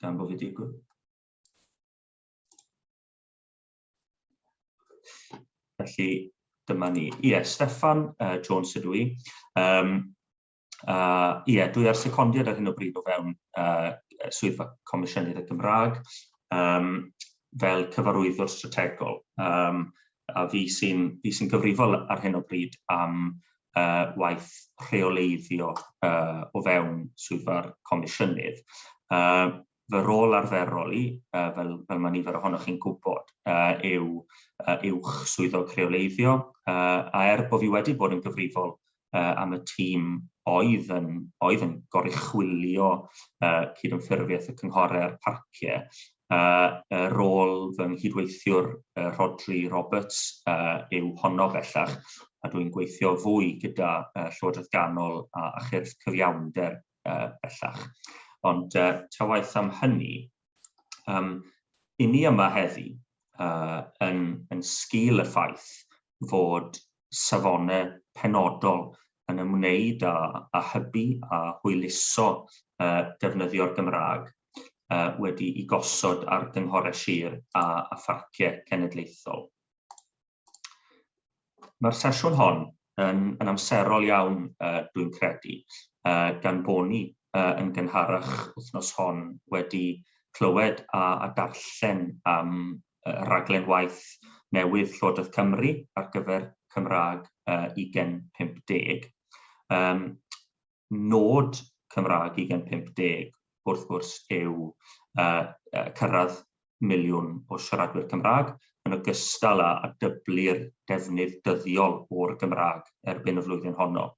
gan bod fi digwydd. Felly, dyma ni. Ie, yeah, Stefan uh, Jones ydw i. Um, uh, ie, yeah, dwi ar secondiad ar hyn o bryd o fewn uh, swyddfa Comisiynydd y Gymraeg um, fel cyfarwyddwr strategol. Um, a fi sy'n sy gyfrifol ar hyn o bryd am uh, waith rheoleiddio uh, o fewn swyddfa'r comisiynydd. Uh, fy rôl arferol i, uh, fel, fel mae nifer ohonoch chi'n gwybod, uh, yw uh, uwch swyddog rheoleiddio, uh, a er bod fi wedi bod yn gyfrifol uh, am y tîm oedd yn, oedd yn goruchwilio uh, cydymffurfiaeth y cynghorau a'r parciau, a rôl fy nghydweithiwr Rhodri Roberts yw honno bellach, a dwi'n gweithio fwy gyda Llywodraeth Ganol a Chyrff Cyfiawnder bellach. Ond ta waeth am hynny, um, i ni yma heddi, uh, yn, yn sgil y ffaith fod safonau penodol yn ymwneud â â hybu a hwyluso defnyddio'r Gymraeg wedi'i gosod ar gynghorau sir a a pharciau cenedlaethol. Mae'r sesiwn hon yn yn amserol iawn dwi'n credu gan bo ni yn gynharach wythnos hon wedi clywed a a darllen am raglen waith newydd Llywodraeth Cymru ar gyfer Cymraeg uh, 2050. Um, nod Cymraeg 2050 wrth gwrs yw uh, uh, cyrraedd miliwn o siaradwyr Cymraeg yn ogystal â, a dyblu'r defnydd dyddiol o'r Gymraeg erbyn y flwyddyn honno.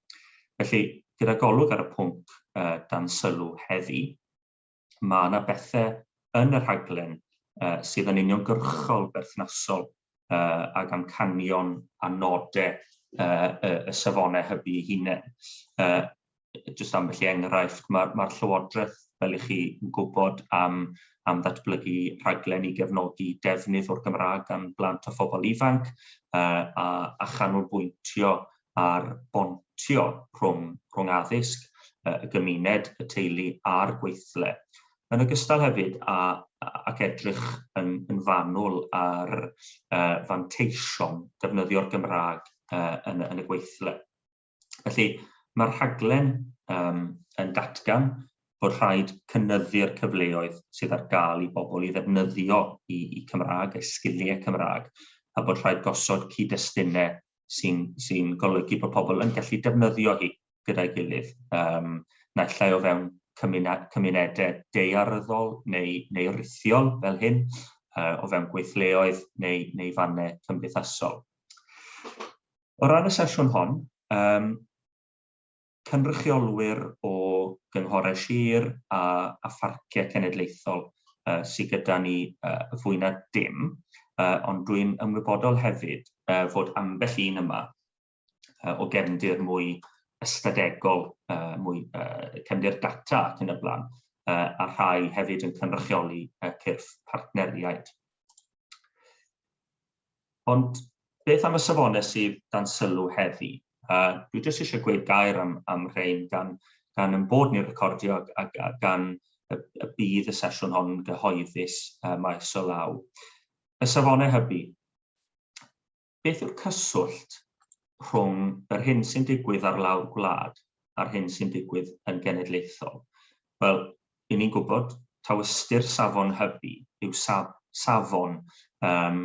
Felly, gyda golwg ar y pwnc uh, dan sylw heddi, mae yna bethau yn y rhaglen uh, sydd yn uniongyrchol berthnasol uh, ag amcanion a nodau uh, y, y safonau hybu ei hunain. Uh, just am felly enghraifft, mae'r ma, Llywodraeth, fel i chi, yn gwybod am, am ddatblygu rhaglen i gefnogi defnydd o'r Gymraeg gan blant a phobl ifanc uh, a, a chanolbwyntio ar bontio rhwng rhwng addysg, y gymuned, y teulu a'r gweithle, yn ogystal hefyd â ac edrych yn yn fanwl ar fanteision defnyddio'r Gymraeg yn yn y gweithle. Felly mae'r rhaglen yn datgan bod rhaid cynyddu'r cyfleoedd sydd ar gael i bobl i ddefnyddio i, i Cymraeg, eu sgiliau Cymraeg, a bod rhaid gosod cyd-destunau sy'n sy golygu bod pobl yn gallu defnyddio hi gyda'i gilydd, um, naill ai o fewn cymunedau deiaryddol neu, neu rithiol fel hyn, uh, o fewn gweithleoedd neu, neu fannau cymdeithasol. O ran y sesiwn hon, um, cynrychiolwyr o gynghorau sir a, a pharciau cenedlaethol uh, sydd gyda ni uh, fwy na dim, uh, ond dwi'n ymwybodol hefyd uh, fod ambell un yma uh, o gefndir mwy ystadegol, uh, mwy uh, cefndir data ac yn y blaen, uh, a rhai hefyd yn cynrychioli uh, cyrff partneriaid. Ond beth am y safonau sydd dan sylw heddi? A dwi jyst eisiau gweud gair am, am rhain gan, gan yn bod ni'n recordio a, a gan y, y bydd y sesiwn hon yn gyhoeddus uh, maes o law. Y safonau hybu. Beth yw'r cyswllt rhwng yr hyn sy'n digwydd ar lawr gwlad a'r hyn sy'n digwydd yn genedlaethol? Wel, Ry'n ni'n gwybod taw ystyr safon hybu yw saf, safon um,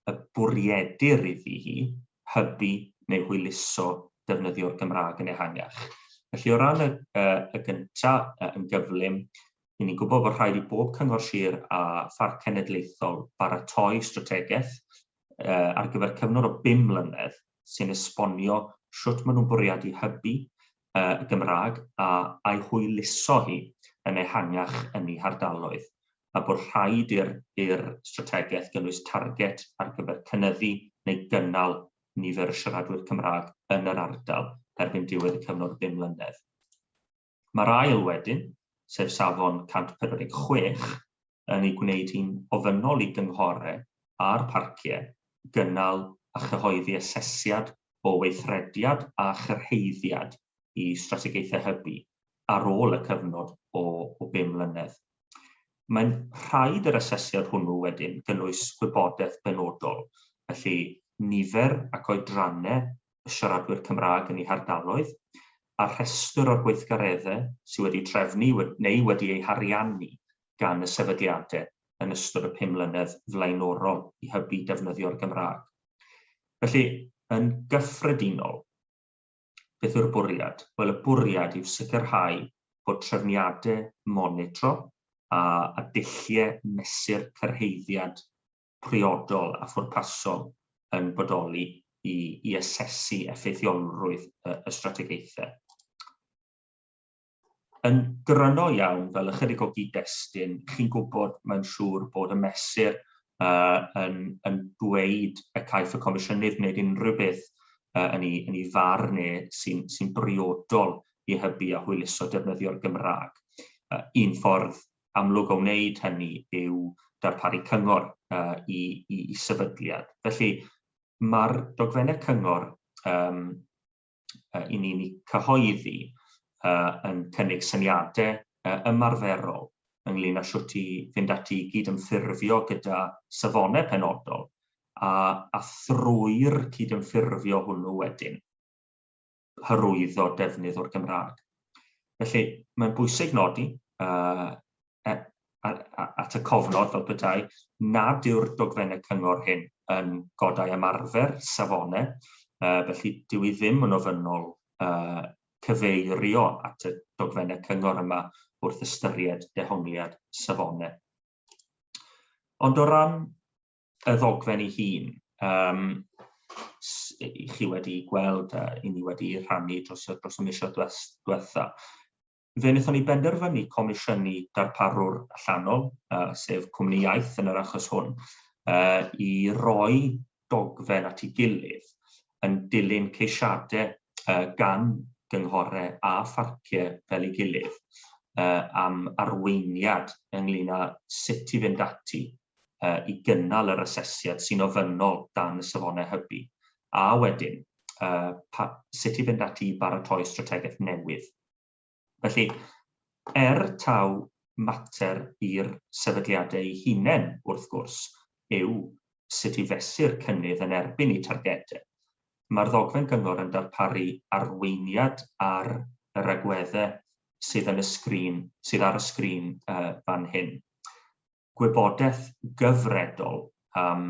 y bwriedir iddi hi hybu neu hwyluso defnyddio'r Gymraeg yn ehangach. Felly o ran y, uh, y gyntaf uh, yn gyflym, Ry'n ni'n gwybod bod rhaid i bob cyngor sir a pharc cenedlaethol baratoi strategaeth uh, ar gyfer cyfnod o bum mlynedd sy'n esbonio sut maen nhw'n bwriadu hybu y Gymraeg a a'i hwyluso hi yn ehangach yn ei hardaloedd, a bod rhaid i'r i'r strategaeth gynnwys targed ar gyfer cynyddu neu gynnal nifer y siaradwyr Cymraeg yn yr ardal erbyn diwedd y cyfnod o bum mlynedd. Mae'r ail wedyn, sef safon 146, yn ei gwneud hi'n ofynnol i gynghorau a'r parciau gynnal a chyhoeddi asesiad o weithrediad a chyrhaeddiad i strategaethau hybu ar ôl y cyfnod o o bum mlynedd. Mae'n rhaid yr asesiad hwnnw wedyn gynnwys gwybodaeth benodol, felly nifer ac oedrannau y siaradwyr Cymraeg yn eu hardaloedd, a rhestr o'r gweithgareddau sydd wedi trefnu neu wedi eu hariannu gan y sefydliadau yn ystod y pum mlynedd flaenorol i hybu defnyddio'r Gymraeg. Felly, yn gyffredinol, beth yw'r bwriad? Wel, y bwriad yw sicrhau bod trefniadau monitro a, a dulliau mesur cyrhaeddiad priodol a phwrpasol yn bodoli i, i asesu effeithiolrwydd y, y strategaethau. Yn gryno iawn, fel ychydig o gyd-destun, chi'n gwybod, mae'n siŵr, bod y Mesur yn dweud y caiff y Comisiynydd wneud unrhyw beth yn ei farn e sy'n briodol i hybu a hwyluso defnyddio'r Gymraeg. Un ffordd amlwg o wneud hynny yw darparu cyngor i sefydliad. Felly, mae'r dogfennau cyngor uh, i ni'n cyhoeddi uh, yn cynnig syniadau uh, ymarferol ynglyn â sut i fynd ati i gydymffurfio gyda safonau penodol a, a thrwy'r cydymffurfio hwnnw wedyn hyrwyddo defnydd o'r Gymraeg. Felly, mae'n bwysig nodi uh, e, at y cofnod fel petai nad yw'r dogfennau cyngor hyn yn godau ymarfer safonau, uh, felly dyw i ddim yn ofynnol uh, cyfeirio at y dogfennau cyngor yma wrth ystyried dehongliad safonau. Ond o ran y ddogfen ei hun, um, i chi wedi gweld a i ni wedi rhannu dros, dros y misoedd diwetha, Fe wnaethon ni benderfynu comisiynu darparwr allanol, uh, sef Cwmni Iaith yn yr achos hwn, uh, i roi dogfen at ei gilydd yn dilyn ceisiadau uh, gan gynghorau a pharciau fel ei gilydd uh, am arweiniad ynglyn â sut i fynd ati uh, i gynnal yr asesiad sy'n ofynnol dan y safonau hybu, a wedyn uh, pa, sut i fynd ati i baratoi strategaeth newydd Felly, er taw mater i'r sefydliadau eu hunain, wrth gwrs, yw sut i fesur cynnydd yn erbyn eu targedau, mae'r ddogfen gyngor yn darparu arweiniad ar yr agweddau sydd yn y sgrin, sydd ar y sgrin fan hyn. gwybodaeth gyfredol am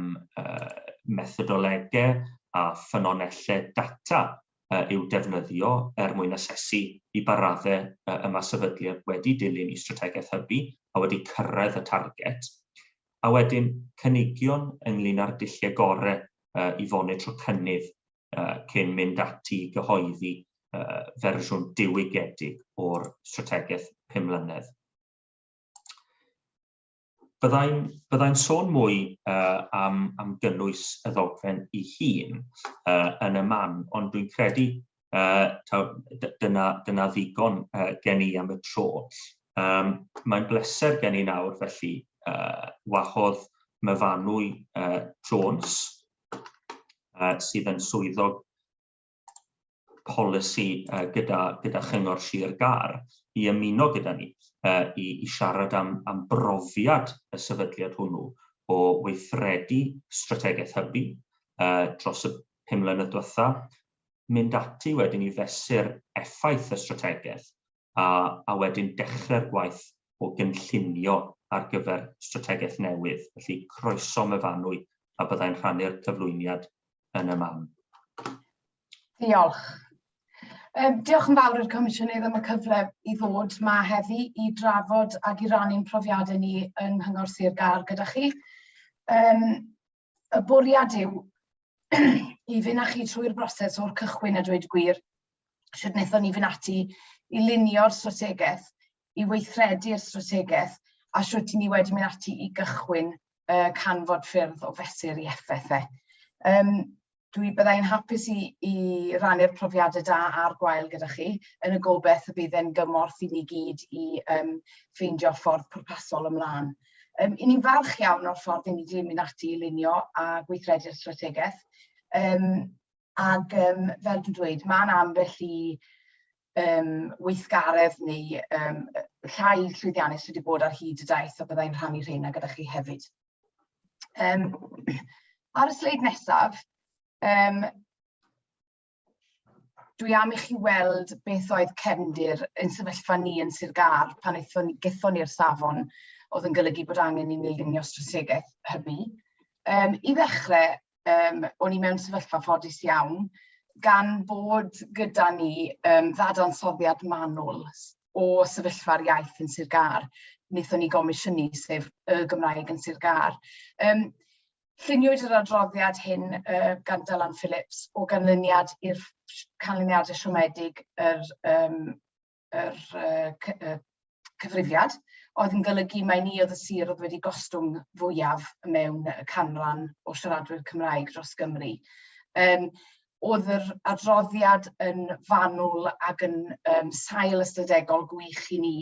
methodolegau a ffynonellau data i'w defnyddio er mwyn asesu i ba raddau y mae sefydliad wedi dilyn ei strategaeth hybu a wedi cyrraedd y targed, a wedyn cynigion ynglŷn â'r dulliau gorau i fonitro cynnydd cyn mynd ati i gyhoeddi fersiwn diwygiedig o'r strategaeth pum mlynedd. Byddai'n byddai sôn mwy uh, am, am gynnwys y ddogfen i hun uh, yn y man, ond dwi'n credu uh, taw, dyna, dyna ddigon uh, gen i am y tro. Um, Mae'n bleser gen i nawr felly uh, wahodd myfanwy uh, Jones uh, sydd yn swyddog polisi uh, gyda, gyda Chyngor Sir Gar i ymuno gyda ni uh, i, i siarad am, am brofiad y sefydliad hwnnw o weithredu strategaeth hybu uh, dros y pum mlynedd diwetha, mynd ati wedyn i fesur effaith y strategaeth a, a wedyn dechrau'r gwaith o gynllunio ar gyfer strategaeth newydd. Felly croeso myfanwy a byddai'n rhannu'r cyflwyniad yn y man. Diolch. Um, diolch yn fawr i'r Comisiynydd am y cyfle i ddod ma heddi i drafod ac i rannu'n profiadau ni yng Nghyngor Sir Gar gyda chi. Um, y bwriad yw i fynd â chi trwy'r broses o'r cychwyn a dweud gwir, sydd wnaethon ni fynd ati i lunio'r strategaeth, i weithredu'r strategaeth, a sut i ni wedi mynd ati i gychwyn uh, canfod ffyrdd o fesur i effaith e. Um, Dwi byddai'n hapus i, i rannu'r profiadau da a'r gwael gyda chi, yn y gobeith y bydd e'n gymorth i ni gyd i um, ffeindio ffordd pwrpasol ymlaen. Um, I ni'n falch iawn o'r ffordd i ni wedi mynd ati i lunio a gweithredu'r strategaeth. Um, ac um, fel dwi'n dweud, mae'n ambell i um, weithgaredd neu um, rhai llwyddiannus sydd wedi bod ar hyd y daith a byddai'n rhannu rheina gyda chi hefyd. Um, ar y sleid nesaf, um, dwi am i chi weld beth oedd cefndir yn sefyllfa ni yn Sir Gar pan eithon, gethon ni'r safon oedd yn golygu bod angen i ni lunio strategaeth hybu. Um, I ddechrau, um, o'n i mewn sefyllfa ffodus iawn, gan bod gyda ni um, ddadansoddiad manwl o sefyllfa'r iaith yn Sir Gar, wnaethon ni gomisiynu, sef y Gymraeg yn Sir Gar. Um, Lluniwyd yr adroddiad hyn uh, gan Dylan Phillips o ganlyniad i'r canlyniadau siomedig yr um, yr uh, cy uh, cyfrifiad, oedd yn golygu mai ni oedd y sir oedd wedi gostwng fwyaf mewn y canran o siaradwyr Cymraeg dros Gymru. Um, oedd yr adroddiad yn fanwl ac yn um, sail ystadegol gwych i ni,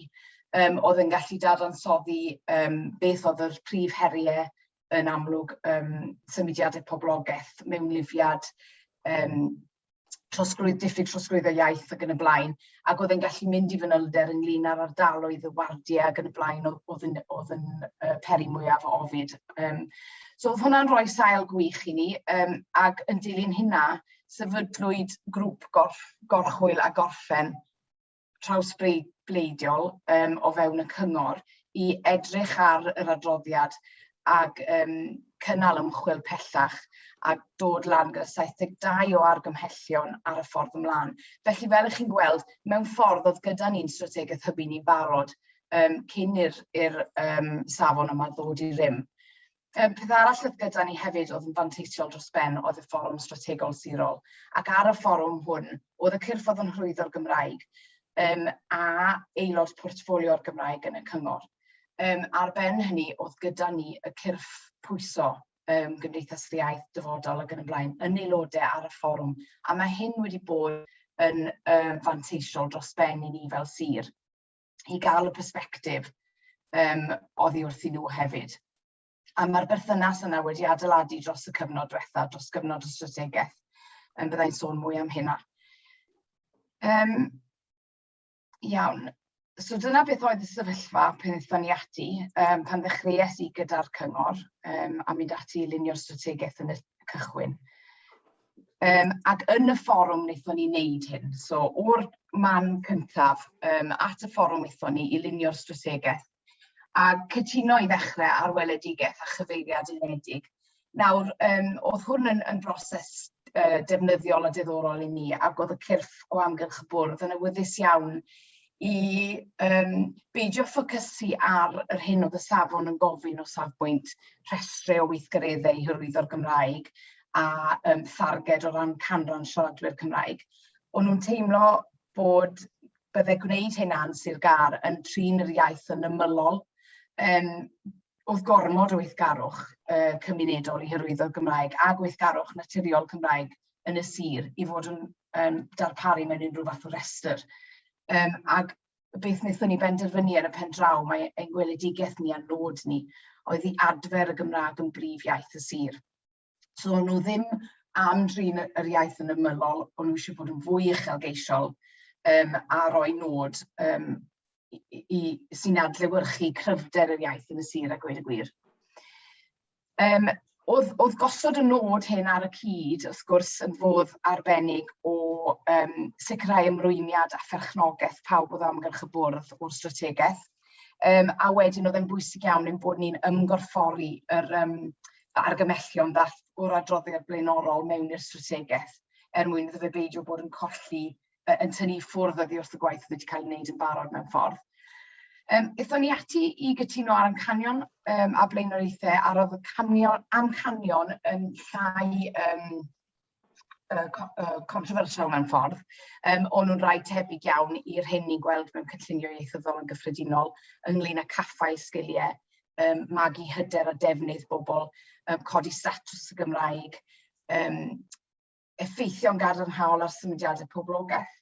um, oedd yn gallu dadansoddi um, beth oedd yr prif heriau yn amlwg um, symudiadau poblogaeth mewn lifiad um, trosglwydd, diffyg trosglwydd o iaith ac yn y blaen, ac oedd e'n gallu mynd i fanylder ynglyn â'r ardaloedd y wardiau ac yn y blaen oedd yn, oedd yn uh, peri mwyaf o ofid. Um, so oedd hwnna'n rhoi sail gwych i ni, um, ac yn dilyn hynna, sefydlwyd grŵp gorff, gorchwyl a gorffen trawsbleidiol um, o fewn y cyngor i edrych ar yr adroddiad ag um, cynnal ymchwil pellach a dod lan gyda 72 o argymhellion ar y ffordd ymlaen. Felly fel ych chi'n gweld, mewn ffordd oedd gyda ni'n strategaeth hybu ni'n barod um, cyn i'r um, safon yma ddod i rym. Yym, peth arall oedd gyda ni hefyd oedd yn fanteisiol dros ben oedd y fforwm strategol sirol, ac ar y fforwm hwn oedd y cyrff oedd yn hyrwyddo'r Gymraeg um, a aelod portffolio'r Gymraeg yn y cyngor. Um, ar ben hynny oedd gyda ni y cyrff pwyso um, Gymdeithas yr Iaith, Dyfodol ac yn y blaen yn aelodau ar y fforwm, a mae hyn wedi bod yn um, fanteisiol dros ben i ni fel sir. i gael y persbectif um, oddi wrthyn nhw hefyd. A mae'r berthynas yna wedi adeiladu dros y cyfnod diwetha, dros gyfnod y strategaeth, yn byddai'n sôn mwy am hynna. Um, iawn. So dyna beth oedd y sefyllfa pan ddethon ni ati, um, pan ddechreuais i gyda'r cyngor um, a mynd ati i lunio'r strategaeth yn y cychwyn. Um, ac yn y fforwm wnaethon ni wneud hyn. So, o'r man cyntaf um, at y fforwm wnaethon ni i lunio'r strategaeth a cytuno i ddechrau ar weledigaeth a chyfeiriad unedig. Nawr, um, oedd hwn yn, yn broses uh, defnyddiol a diddorol i ni ac oedd y cyrff o amgylch y bwrdd yn awyddus iawn i um, beidio ffocysu ar yr hyn oedd y safon yn gofyn o safbwynt rhestru o weithgareddau i hyrwyddo'r Gymraeg a um, tharged o ran canran siaradwyr Cymraeg. O'n nhw'n teimlo bod bydde gwneud hynna'n Sir Gar yn trin yr iaith yn ymylol, um, oedd gormod o weithgarwch uh, cymunedol i hyrwyddo'r Gymraeg a gweithgarwch naturiol Cymraeg yn y sir i fod yn um, darparu mewn unrhyw fath o restr. Um, ac beth wnaethon ni benderfynu ar y pen draw, mae ein gweledigaeth ni a nod ni oedd i adfer y Gymraeg yn brif iaith y sir. So nhw ddim am drin yr iaith yn ymylol, ond nhw eisiau bod yn fwy uchelgeisiol um, a roi nod um, i, i, sy'n adlewyrchu cryfder yr iaith yn y sir a gweud y gwir. Um, oedd, oedd gosod y nod hyn ar y cyd, wrth gwrs, yn fodd arbennig o um, sicrhau ymrwymiad a pherchnogaeth pawb oedd amgylch y bwrdd o'r strategaeth. Um, a wedyn oedd e'n bwysig iawn yn bod ni'n ymgorffori yr um, argymellion ddath o'r adroddiad blaenorol mewn i'r strategaeth er mwyn iddo fe beidio bod yn colli yn tynnu i ffwrdd oddi wrth y gwaith oedd wedi cael ei wneud yn barod mewn ffordd. Um, Ethon ni ati i gytuno ar amcanion um, a blaenoriaethau a roedd y canion, amcanion yn llai um, uh, controversial mewn ffordd, um, ond nhw'n rhaid tebyg iawn i'r hyn ni'n gweld mewn cynllunio ieithyddol yn gyffredinol ynglyn â caffael sgiliau, um, magu hyder a defnydd bobl, um, codi statws y Gymraeg, um, effeithio'n gadarnhaol ar symudiadau poblogaeth,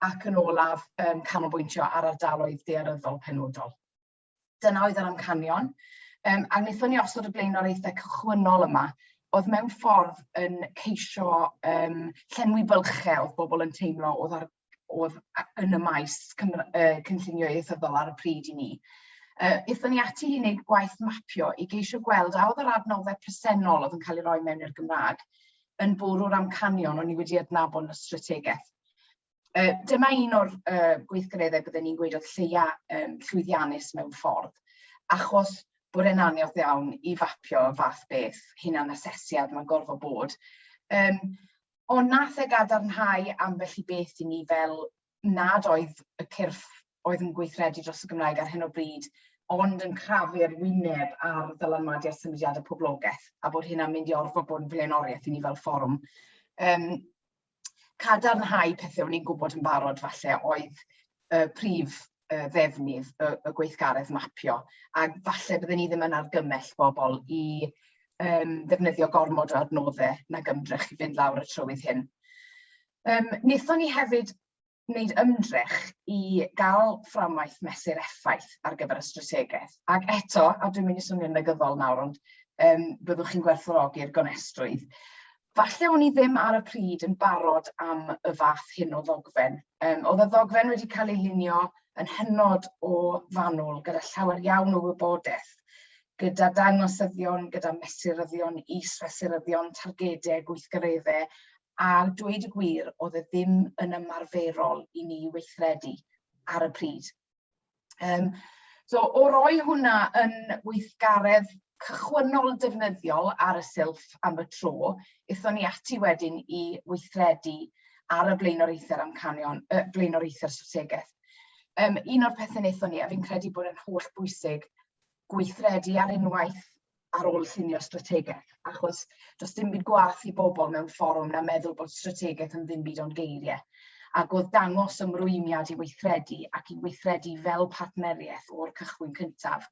ac yn olaf um, canolbwyntio ar ardaloedd dearyddol penodol. Dyna oedd yr amcanion, um, a wnaethon ni osod y blaenoriaethau cychwynnol yma, oedd mewn ffordd yn ceisio um, llenwi bylchau oedd bobl yn teimlo oedd ar oedd yn y maes cynllunio ieithyddol ar y pryd i ni. Uh, Ithon ni ati i wneud gwaith mapio i geisio gweld a oedd yr adnoddau presennol oedd yn cael ei roi mewn i'r Gymraeg yn bwrw'r amcanion o'n ni wedi adnabod yn y strategaeth. Uh, dyma un o'r uh, gweithgareddau byddwn ni'n gweud oedd lleia um, llwyddiannus mewn ffordd, achos bod e'n aniodd iawn i fapio y fath beth, hunan asesiad, mae'n gorfod bod. Um, Ond nath e gadarnhau ambell i beth i ni fel nad oedd y cyrff oedd yn gweithredu dros y Gymraeg ar hyn o bryd ond yn crafu'r wyneb ar ddylanwadu ar symudiadau poblogaeth a bod hynna'n mynd i orfod bod yn flaenoriaeth i ni fel fforwm. Um, cadarnhau pethau o'n i'n gwybod yn barod falle oedd y prif uh, ddefnydd y, y gweithgaredd mapio, a falle byddwn ni ddim yn argymell bobl i um, ddefnyddio gormod o adnoddau na gymdrech i fynd lawr y trywydd hyn. Um, Nethon ni hefyd wneud ymdrech i gael fframwaith mesur effaith ar gyfer y strategaeth. Ac eto, a dwi'n mynd i swnio'n negyddol nawr, ond um, byddwch chi'n gwerthfawrogi'r gonestrwydd, Falle o'n i ddim ar y pryd yn barod am y fath hyn o ddogfen. Um, oedd y ddogfen wedi cael ei lunio yn hynod o fanwl gyda llawer iawn o wybodaeth, gyda dangosyddion, gyda mesuryddion, is-fesuryddion, targedau, gweithgareddau, a dweud y gwir, oedd e ddim yn ymarferol i ni weithredu ar y pryd. Um, so, o roi hwnna yn weithgaredd cychwynnol defnyddiol ar y silff am y tro, eithon ni ati wedyn i weithredu ar y blaenoriaethau'r amcanion, y blaenoriaethau'r strategaeth. Um, un o'r pethau wnaethon ni, a fi'n credu bod yn holl bwysig, gweithredu ar unwaith ar ôl llunio strategaeth, achos does dim byd gwaith i bobl mewn fforwm na meddwl bod strategaeth yn ddim byd o'n geiriau. Ac oedd dangos ymrwymiad i weithredu ac i weithredu fel partneriaeth o'r cychwyn cyntaf.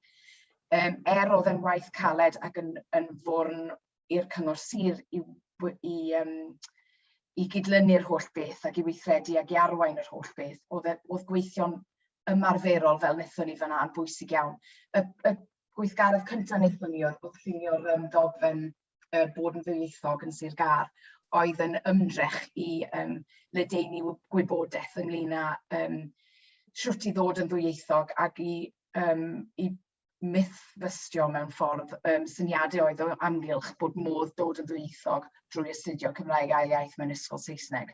Um, er oedd yn waith caled ac yn, yn fwrn i'r cyngor sir i, i, um, i gydlynu'r holl beth ac i weithredu ac i arwain yr holl beth, oedd, e, oedd gweithio'n ymarferol fel wnaethon ni fanna yn bwysig iawn. Y, y gweithgaredd cyntaf wnaethon ni oedd llunio'r um, dogfen uh, bod yn ddwyieithog yn Sir Gar oedd yn ymdrech i um, ledeini gwybodaeth ynglyn â um, siwt i ddod yn ddwyieithog ac i, um, i mythfystio mewn ffordd um, syniadau oedd o amgylch bod modd dod yn ddwyieithog drwy astudio Cymraeg ail iaith mewn ysgol Saesneg.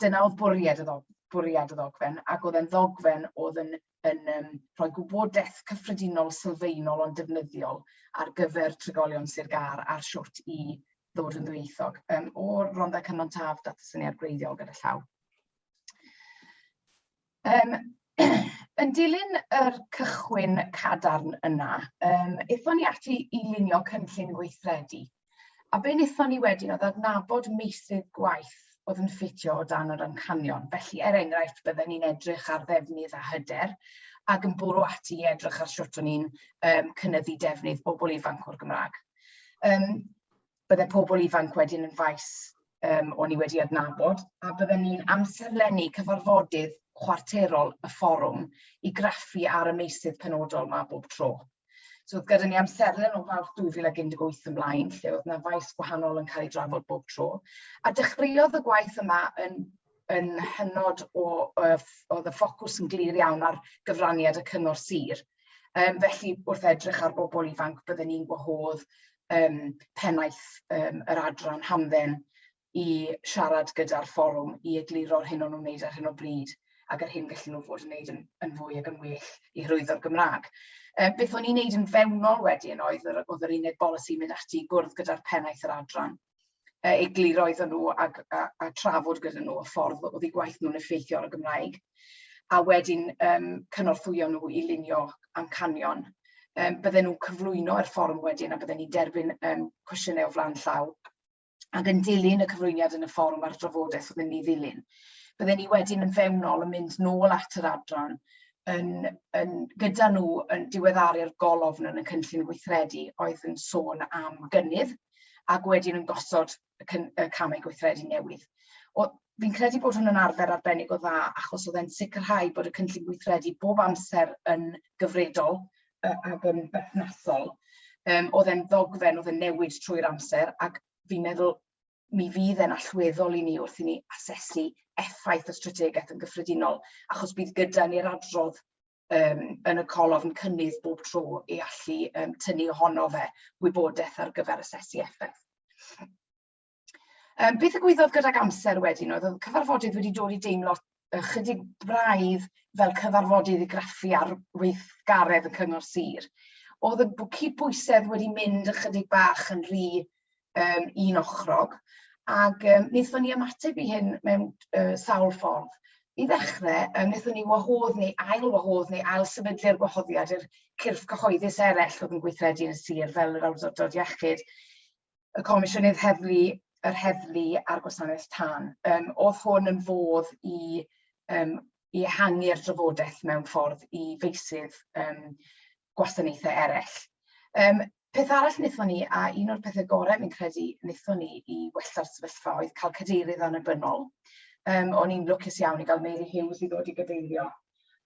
Dyna oedd bwriad y, ddog, bwriad y ddogfen ac oedd e'n ddogfen oedd yn yn um, rhoi gwybodaeth cyffredinol sylfaenol ond defnyddiol ar gyfer trigolion Sir Gar a'r siwrt i ddod yn ddwyieithog. Um, o Rhondda Cynon Taf, data syniad gwreiddiol gyda llaw. Um, yn dilyn yr cychwyn cadarn yna, um, eithon ni ati i lunio cynllun gweithredu A be wnaethon ni wedyn oedd adnabod meysydd gwaith oedd yn ffitio o dan yr amcanion. Felly, er enghraifft, bydden ni'n edrych ar ddefnydd a hyder ac yn bwrw ati i edrych ar sut o'n ni'n um, cynnyddu defnydd bobl ifanc o'r Gymraeg. Um, bydde pobl ifanc wedyn yn faes um, o'n i wedi adnabod, a bydden ni'n amserlennu cyfarfodydd chwarterol y fforwm i graffu ar y meysydd penodol mae bob tro. So oedd gyda ni amserlen o Fawrth 2018 ymlaen lle oedd 'na faes gwahanol yn cael ei drafod bob tro. A dechreuodd y gwaith yma yn yn hynod o yy oedd y ffocws yn glir iawn ar gyfraniad y cyngor sir. Yym felly wrth edrych ar bobl ifanc bydden ni'n gwahodd yym pennaeth yym yr adran hamdden i siarad gyda'r fforwm i egluro'r hyn o'n nhw'n wneud ar hyn o bryd ac yr hyn gallen nhw fod yn wneud yn, yn fwy ac yn well i hyrwyddo'r Gymraeg. E, beth o'n i'n wneud yn fewnol wedyn oedd, oedd yr uned bolisi mynd ati i gwrdd gyda'r pennaeth yr adran, e, egluro iddyn nhw a, a, a trafod gyda nhw y ffordd oedd eu gwaith nhw'n effeithio ar y Gymraeg a wedyn um, cynorthwyo nhw i lunio amcanion um, bydden nhw'n cyflwyno i'r fforwm wedyn a bydden ni'n derbyn um, cwestiynau o flaen llaw ac yn dilyn y cyflwyniad yn y fforwm a'r drafodaeth oedd yn ei ddilyn. Bydden ni wedyn yn fewnol yn mynd nôl at yr adran yn, yn, gyda nhw yn diweddaru'r golofn yn y cynllun gweithredu oedd yn sôn am gynnydd ac wedyn yn gosod y, cyn, y camau gweithredu newydd. Fi'n credu bod hwn yn arfer arbennig o dda achos oedd e'n sicrhau bod y cynllun gweithredu bob amser yn gyfredol ac yn berthnasol. Um, oedd e'n ddogfen, oedd e'n newid trwy'r amser, ac fi'n meddwl mi fydd e'n allweddol i ni wrth i ni asesu effaith y strategaeth yn gyffredinol, achos bydd gyda ni'r adrodd um, yn y colofn cynnydd bob tro i allu um, tynnu ohono fe wybodaeth ar gyfer asesu effaith. Um, beth y gwyddodd gydag amser wedyn oedd oedd cyfarfodydd wedi dod i deimlo ychydig braidd fel cyfarfodydd i graffu ar weithgaredd y cyngor sir. Oedd y cydbwysedd wedi mynd ychydig bach yn rhy um, un ochrog, ac um, wnaethon ni ymateb i hyn mewn uh, sawl ffordd. I ddechrau, um, wnaethon ni wahodd neu ail wahodd neu ail sefydlu'r gwahoddiad i'r cyrff cyhoeddus eraill oedd yn gweithredu yn y sir fel yr awdurdod iechyd y Comisiynydd Heddlu, yr Heddlu a'r Gwasanaeth Tân. Um, oedd hwn yn fodd i, um, i ehangu'r drafodaeth mewn ffordd i feisydd um, gwasanaethau eraill. Um, peth arall wnaethon ni, a un o'r pethau gorau fi'n credu wnaethon ni i wella'r sefyllfa oedd cael cadeirydd annibynnol. Um, o'n i'n lwcus iawn i gael Mary Hughes i ddod i gadeirio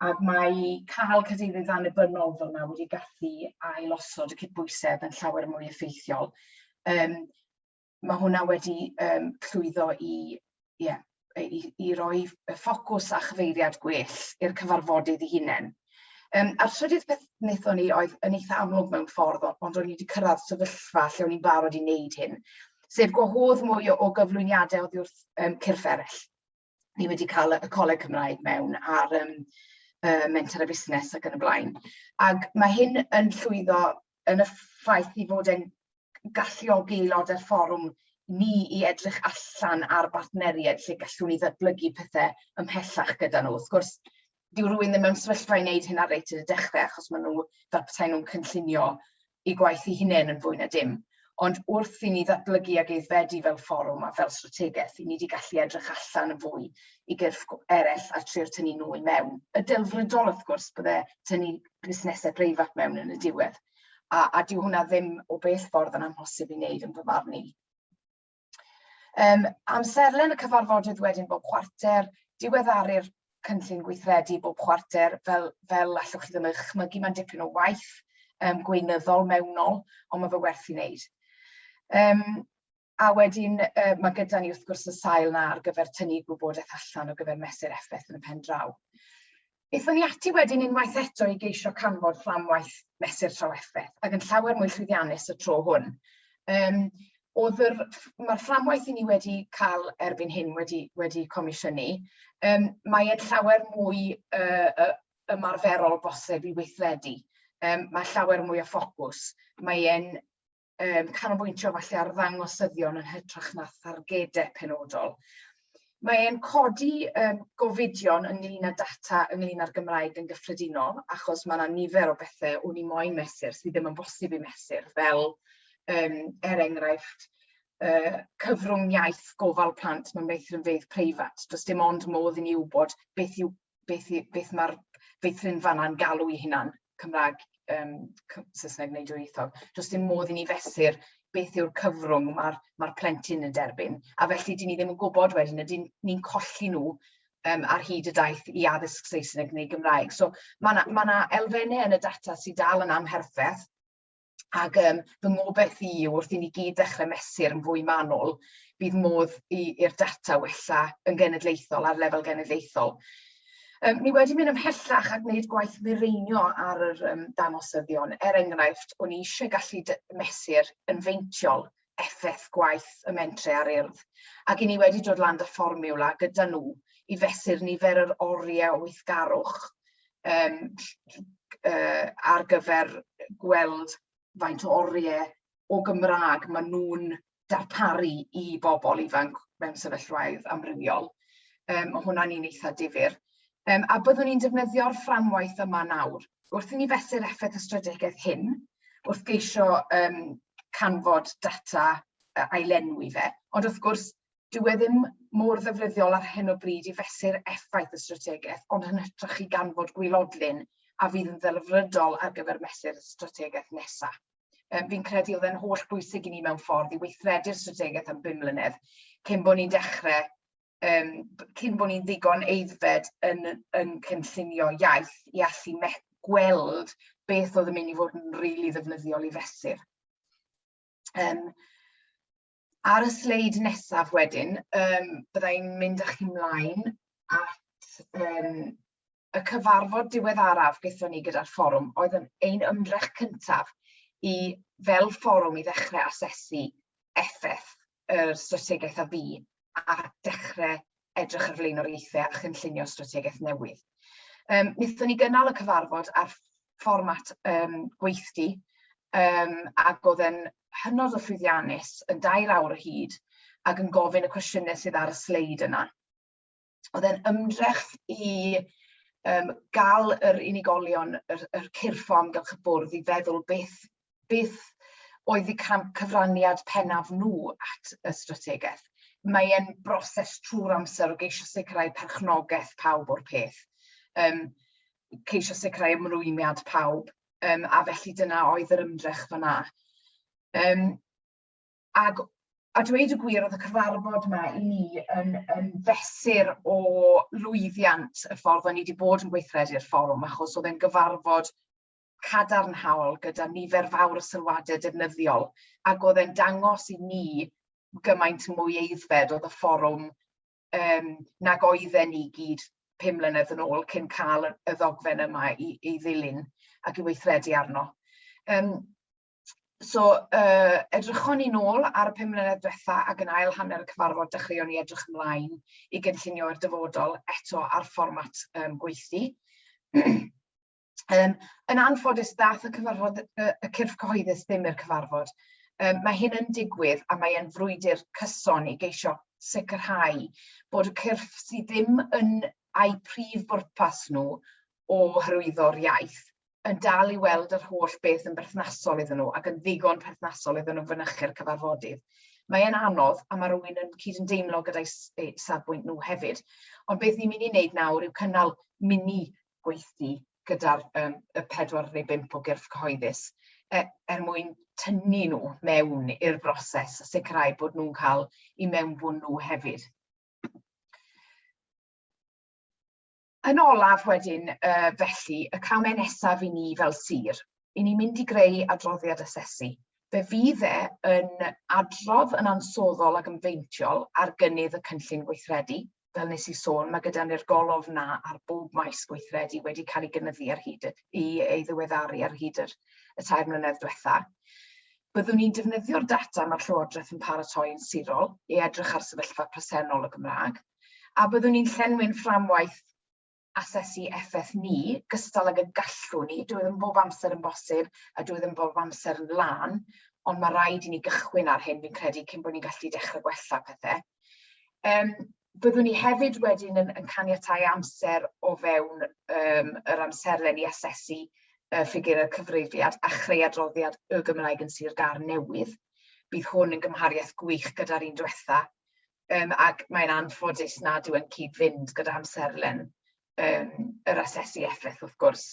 ac mae cael cadeirydd annibynnol fel yna wedi gallu ailosod y cydbwysedd yn llawer mwy effeithiol. Um, mae hwnna wedi um, llwyddo i, yeah, i, i roi ffocws a chyfeiriad gwell i'r cyfarfodydd i hunain. Um, a'r trydydd peth wnaethon ni oedd yn eitha amlwg mewn ffordd, ond o'n i wedi cyrraedd sefyllfa lle o'n i'n barod i wneud hyn, sef gwahodd mwy o, o gyflwyniadau oddi wrth um, cyrff eraill. ni wedi cael y Coleg Cymraeg mewn ar um, uh, mentor a busnes ac yn y blaen. Ac mae hyn yn llwyddo yn y ffaith i fod e'n galluogi aelodau'r fforwm ni i edrych allan ar bartneriaid lle gallwn ni ddatblygu pethau ymhellach gyda nhw. Wrth gwrs, dyw rhywun ddim mewn sefyllfa i wneud hynna reit yn y dechrau achos maen nhw fel petai nhw'n cynllunio i gwaith i hunain yn fwy na dim. Ond wrth i ni ddatblygu ag eiddfedu fel fforwm a fel strategaeth, i ni wedi gallu edrych allan yn fwy i gyrff eraill a trio tynnu nhw i mewn. Y delfrydol, wrth gwrs, bydde tynnu busnesau breifat mewn yn y diwedd. A, a dyw hwnna ddim o bell ffordd yn amhosib i wneud yn fy marn i. Um, amserlen y cyfarfodydd wedyn bob chwarter, diweddaru'r cynllun gweithredu bob chwarter, fel, fel allwch chi ddim eich chmygu, mae'n dipyn o waith um, gweinyddol mewnol, ond mae fe werth i wneud. Um, a wedyn uh, mae gyda ni wrth gwrs y sail na ar gyfer tynnu gwybodaeth allan o gyfer mesur effaith yn y pen draw. Aethon ni ati wedyn unwaith eto i geisio canfod fframwaith mesur trafferth ac yn llawer mwy llwyddiannus y tro hwn. Um, oedd yr, mae'r fframwaith i ni wedi cael erbyn hyn wedi, wedi comisiynu, um, mae'n llawer mwy uh, uh, ymarferol bosib i weithredu. Um, mae llawer mwy o ffocws. Mae'n um, canolbwyntio falle ar ddangosyddion yn hytrach na thargedau penodol. Mae'n codi um, gofidion ynglyn â data ynglyn â'r Gymraeg yn gyffredinol, achos mae yna nifer o bethau o'n i moyn mesur sydd ddim yn bosib i mesur, fel um, er enghraifft uh, cyfrwng iaith gofal plant mewn meithrinfeydd preifat. Does dim ond modd i ni wybod beth yw beth i... beth mae'r feithrinfanna'n galw'i hunan, Cymraeg yym c- Saesneg neu dwyieithog. Does dim modd i ni fesur beth yw'r cyfrwng mae'r mae'r plentyn yn derbyn, a felly 'dyn ni ddim yn gwybod wedyn, ydyn ni'n colli nhw yym ar hyd y daith i addysg Saesneg neu Gymraeg. So ma' 'na ma' 'na elfennau yn y data sydd dal yn amherffeth. Ac um, fy ngobaith i yw wrth i ni gyd dechrau mesur yn fwy manwl, bydd modd i'r data wella yn genedlaethol, ar lefel genedlaethol. Um, ni wedi mynd ymhellach a gwneud gwaith mireinio ar yr um, dangosyddion. Er enghraifft, o'n i eisiau gallu mesur yn feintiol effaith gwaith y mentre ar urdd, ac i ni wedi dod lan dy fformiwla gyda nhw i fesur nifer yr oriau o weithgarwch um, uh, ar gyfer gweld faint o oriau o Gymraeg maen nhw'n darparu i bobl ifanc mewn sefyllfaoedd amrywiol. Um, mae hwnna'n un eitha difyr. Um, a byddwn ni'n defnyddio'r fframwaith yma nawr. Wrth i ni fesur effaith y strategaeth hyn, wrth geisio um, canfod data uh, ailenwi fe, ond wrth gwrs, dyw e ddim mor ddefnyddiol ar hyn o bryd i fesur effaith y strategaeth, ond yn hytrach i ganfod gwylodlun a fydd yn ddelfrydol ar gyfer mesur y strategaeth nesaf. Um, fi'n credu oedd e'n holl bwysig i ni mewn ffordd i weithredu'r strategaeth am bum mlynedd cyn bod ni'n dechrau um, cyn bod ni'n ddigon eiddfed yn, yn cynllunio iaith i allu gweld beth oedd yn mynd i fod yn rili really ddefnyddiol i fesur. Um, ar y sleid nesaf wedyn, um, byddai'n mynd â chi mlaen at um, y cyfarfod diweddaraf gyda ni gyda'r fforwm oedd yn ein ymdrech cyntaf i fel fforwm i ddechrau asesu effaith yr strategaeth a fu a dechrau edrych ar flaenoriaethau a chynllunio strategaeth newydd. Um, wnaethon ni gynnal y cyfarfod ar fformat um, gweithdi um, ac oedd e'n hynod o llwyddiannus yn dair awr o hyd ac yn gofyn y cwestiynau sydd ar y sleid yna. oedd e'n ymdrech i um, gael yr unigolion, yr, yr cyrffo amgylch y bwrdd i feddwl beth, beth oedd y cyfraniad pennaf nhw at y strategaeth. Mae e'n broses trwy'r amser o geisio sicrhau perchnogaeth pawb o'r peth, um, ceisio sicrhau ymrwymiad pawb, um, a felly dyna oedd yr ymdrech fyna. Um, ac a dweud y gwir oedd y cyfarfod yma i ni yn yn fesur o lwyddiant y ffordd o'n i wedi bod yn gweithredu'r fforwm achos oedd e'n gyfarfod cadarnhaol gyda nifer fawr o sylwadau defnyddiol ac oedd e'n dangos i ni gymaint mwy eiddfed oedd y fforwm um, nag oedden ni gyd pum mlynedd yn ôl cyn cael y ddogfen yma i, i ddilyn ac i weithredu arno. Um, So, uh, edrychwn ni'n ôl ar y pum mlynedd diwetha ac yn ail hanner y cyfarfod dechreuon ni edrych ymlaen i gynllunio i'r dyfodol eto ar fformat um, gweithdi. um, yn anffodus, dath y cyfarfod, y, y cyrff cyhoeddus ddim i'r cyfarfod. Um, mae hyn yn digwydd a mae'n frwydr cyson i geisio sicrhau bod y cyrff sydd ddim yn a'i prif bwrpas nhw o hyrwyddo'r iaith yn dal i weld yr holl beth yn berthnasol iddyn nhw ac yn ddigon perthnasol iddyn nhw fynychu'r cyfarfodydd. Mae e'n anodd a mae rhywun yn cyd yn deimlo gyda'i safbwynt nhw hefyd. Ond beth ni'n mynd i wneud nawr yw cynnal mini gweithdy gyda'r um, y pedwar neu bimp o gyrff cyhoeddus er, er mwyn tynnu nhw mewn i'r broses a sicrhau bod nhw'n cael i mewnbwn nhw hefyd. Yn olaf wedyn uh, felly, y camau nesaf i ni fel sir, i ni mynd i greu adroddiad asesu. Fe fydd e yn adrodd yn ansoddol ac yn feintiol ar gynnydd y cynllun gweithredu. Fel nes i sôn, mae gyda ni'r golwg na ar bob maes gweithredu wedi cael ei gynyddu ar hyd y, i ei ddiweddaru ar hyd yr, y tair mlynedd diwetha. Byddwn ni'n defnyddio'r data mae'r Llywodraeth yn paratoi yn sirol i edrych ar sefyllfa presennol y Gymraeg, a byddwn ni'n llenwi'n fframwaith asesu effaith ni, gystal ag y gallwn ni, dwi ddim bob amser yn bosib a dwi ddim bob amser yn lan, ond mae rhaid i ni gychwyn ar hyn fi'n credu cyn bod ni'n gallu dechrau gwella pethau. Um, byddwn ni hefyd wedyn yn, yn caniatau amser o fewn um, yr amserlen i asesu uh, ffigur y cyfrifiad a chreu adroddiad y Gymraeg yn Sir Gar newydd. Bydd hwn yn gymhariaeth gwych gyda'r un diwetha, um, ac mae'n anffodus nad yw'n cyd-fynd gyda amserlen yym yr asesu effaith wrth gwrs.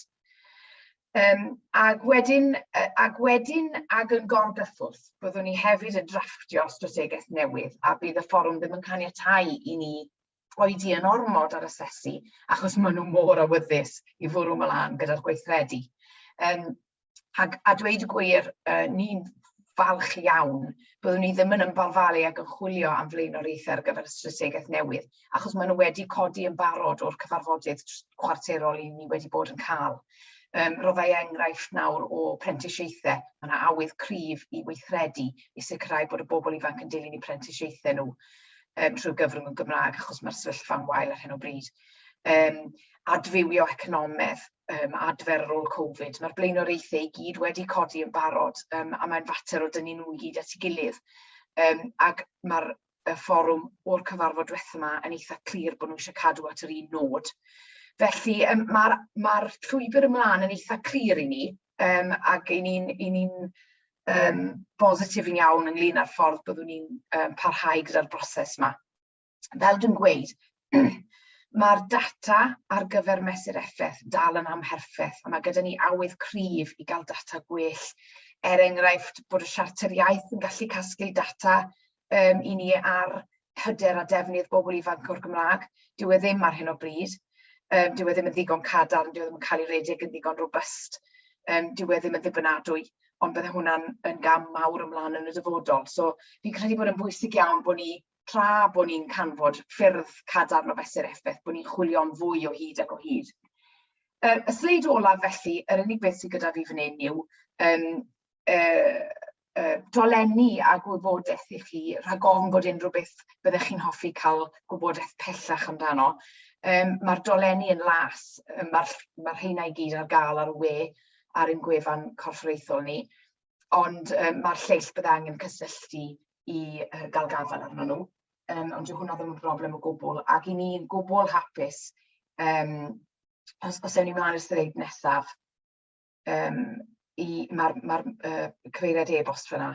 Um, ac wedyn, ac wedyn ac yn gorgyffwrdd, byddwn ni hefyd yn drafftio strategaeth newydd a bydd y fforwm ddim yn caniatau i ni oedi yn ormod ar asesu achos maen nhw mor awyddus i fwrw mlaen gyda'r gweithredu. Um, ac a dweud y gwir, uh, ni'n falch iawn, byddwn ni ddim yn ymbalfalu ac yn chwilio am flaenoriaethau ar gyfer y strategaeth newydd, achos maen nhw wedi codi yn barod o'r cyfarfodydd chwarterol i ni wedi bod yn cael. Um, roddai enghraifft nawr o prentisiaethau, mae yna awydd cryf i weithredu i sicrhau bod y bobl ifanc yn dilyn i prentisiaethau nhw um, trwy gyfrwng y Gymraeg, achos mae'r sefyllfa'n wael ar hyn o bryd. Um, adfywio economedd, um, adfer ar ôl Covid. Mae'r blaenoriaethau i gyd wedi codi yn barod um, a mae'n fater o dynnu nhw i gyd at ei gilydd. Um, ac mae'r y fforwm o'r cyfarfod diwethaf yma yn eitha clir bod nhw eisiau cadw at yr un nod. Felly um, mae'r ma, llwybr ymlaen yn eitha clir i ni um, ac i ni'n ni um, bositif yn iawn ynglyn â'r ffordd byddwn ni'n um, parhau gyda'r broses yma. fel dwi'n gweud, mae'r data ar gyfer mesur effaith dal yn amherffeth, a mae gyda ni awydd cryf i gael data gwell. Er enghraifft, bod y siarter iaith yn gallu casglu data um, i ni ar hyder a defnydd bobl ifanc o'r Gymraeg. Dyw e ddim ar hyn o bryd. Um, dyw e ddim yn ddigon cadarn, dyw e ddim yn cael ei redeg yn ddigon robust. Um, dyw e ddim yn ddibynadwy ond bydde hwnna'n yn gam mawr ymlaen yn y dyfodol. So fi'n credu bod yn bwysig iawn bod ni tra bod ni'n canfod ffyrdd cadarn o fesur effaith, bod ni'n chwilio'n fwy o hyd ac o hyd. Uh, y sleid olaf felly, yr unig beth sydd gyda fi fan hyn yw um, uh, uh, dolenni a gwybodaeth i chi, rhag ofn bod unrhyw beth byddech chi'n hoffi cael gwybodaeth pellach amdano. Um, Mae'r dolenni yn las, um, mae'r ma rheina i gyd ar gael ar y we ar ein gwefan corfforaethol ni, ond um, mae'r lleill bydd angen cysylltu i yy gael gafael arno nhw, yym ond dyw hwnna ddim yn broblem o gwbl, ac 'y ni'n gwbl hapus yym os os ewn ni mlaen i'r sleid nesaf yym i ma'r ma'r yy cyfeiriad e-bost fan'na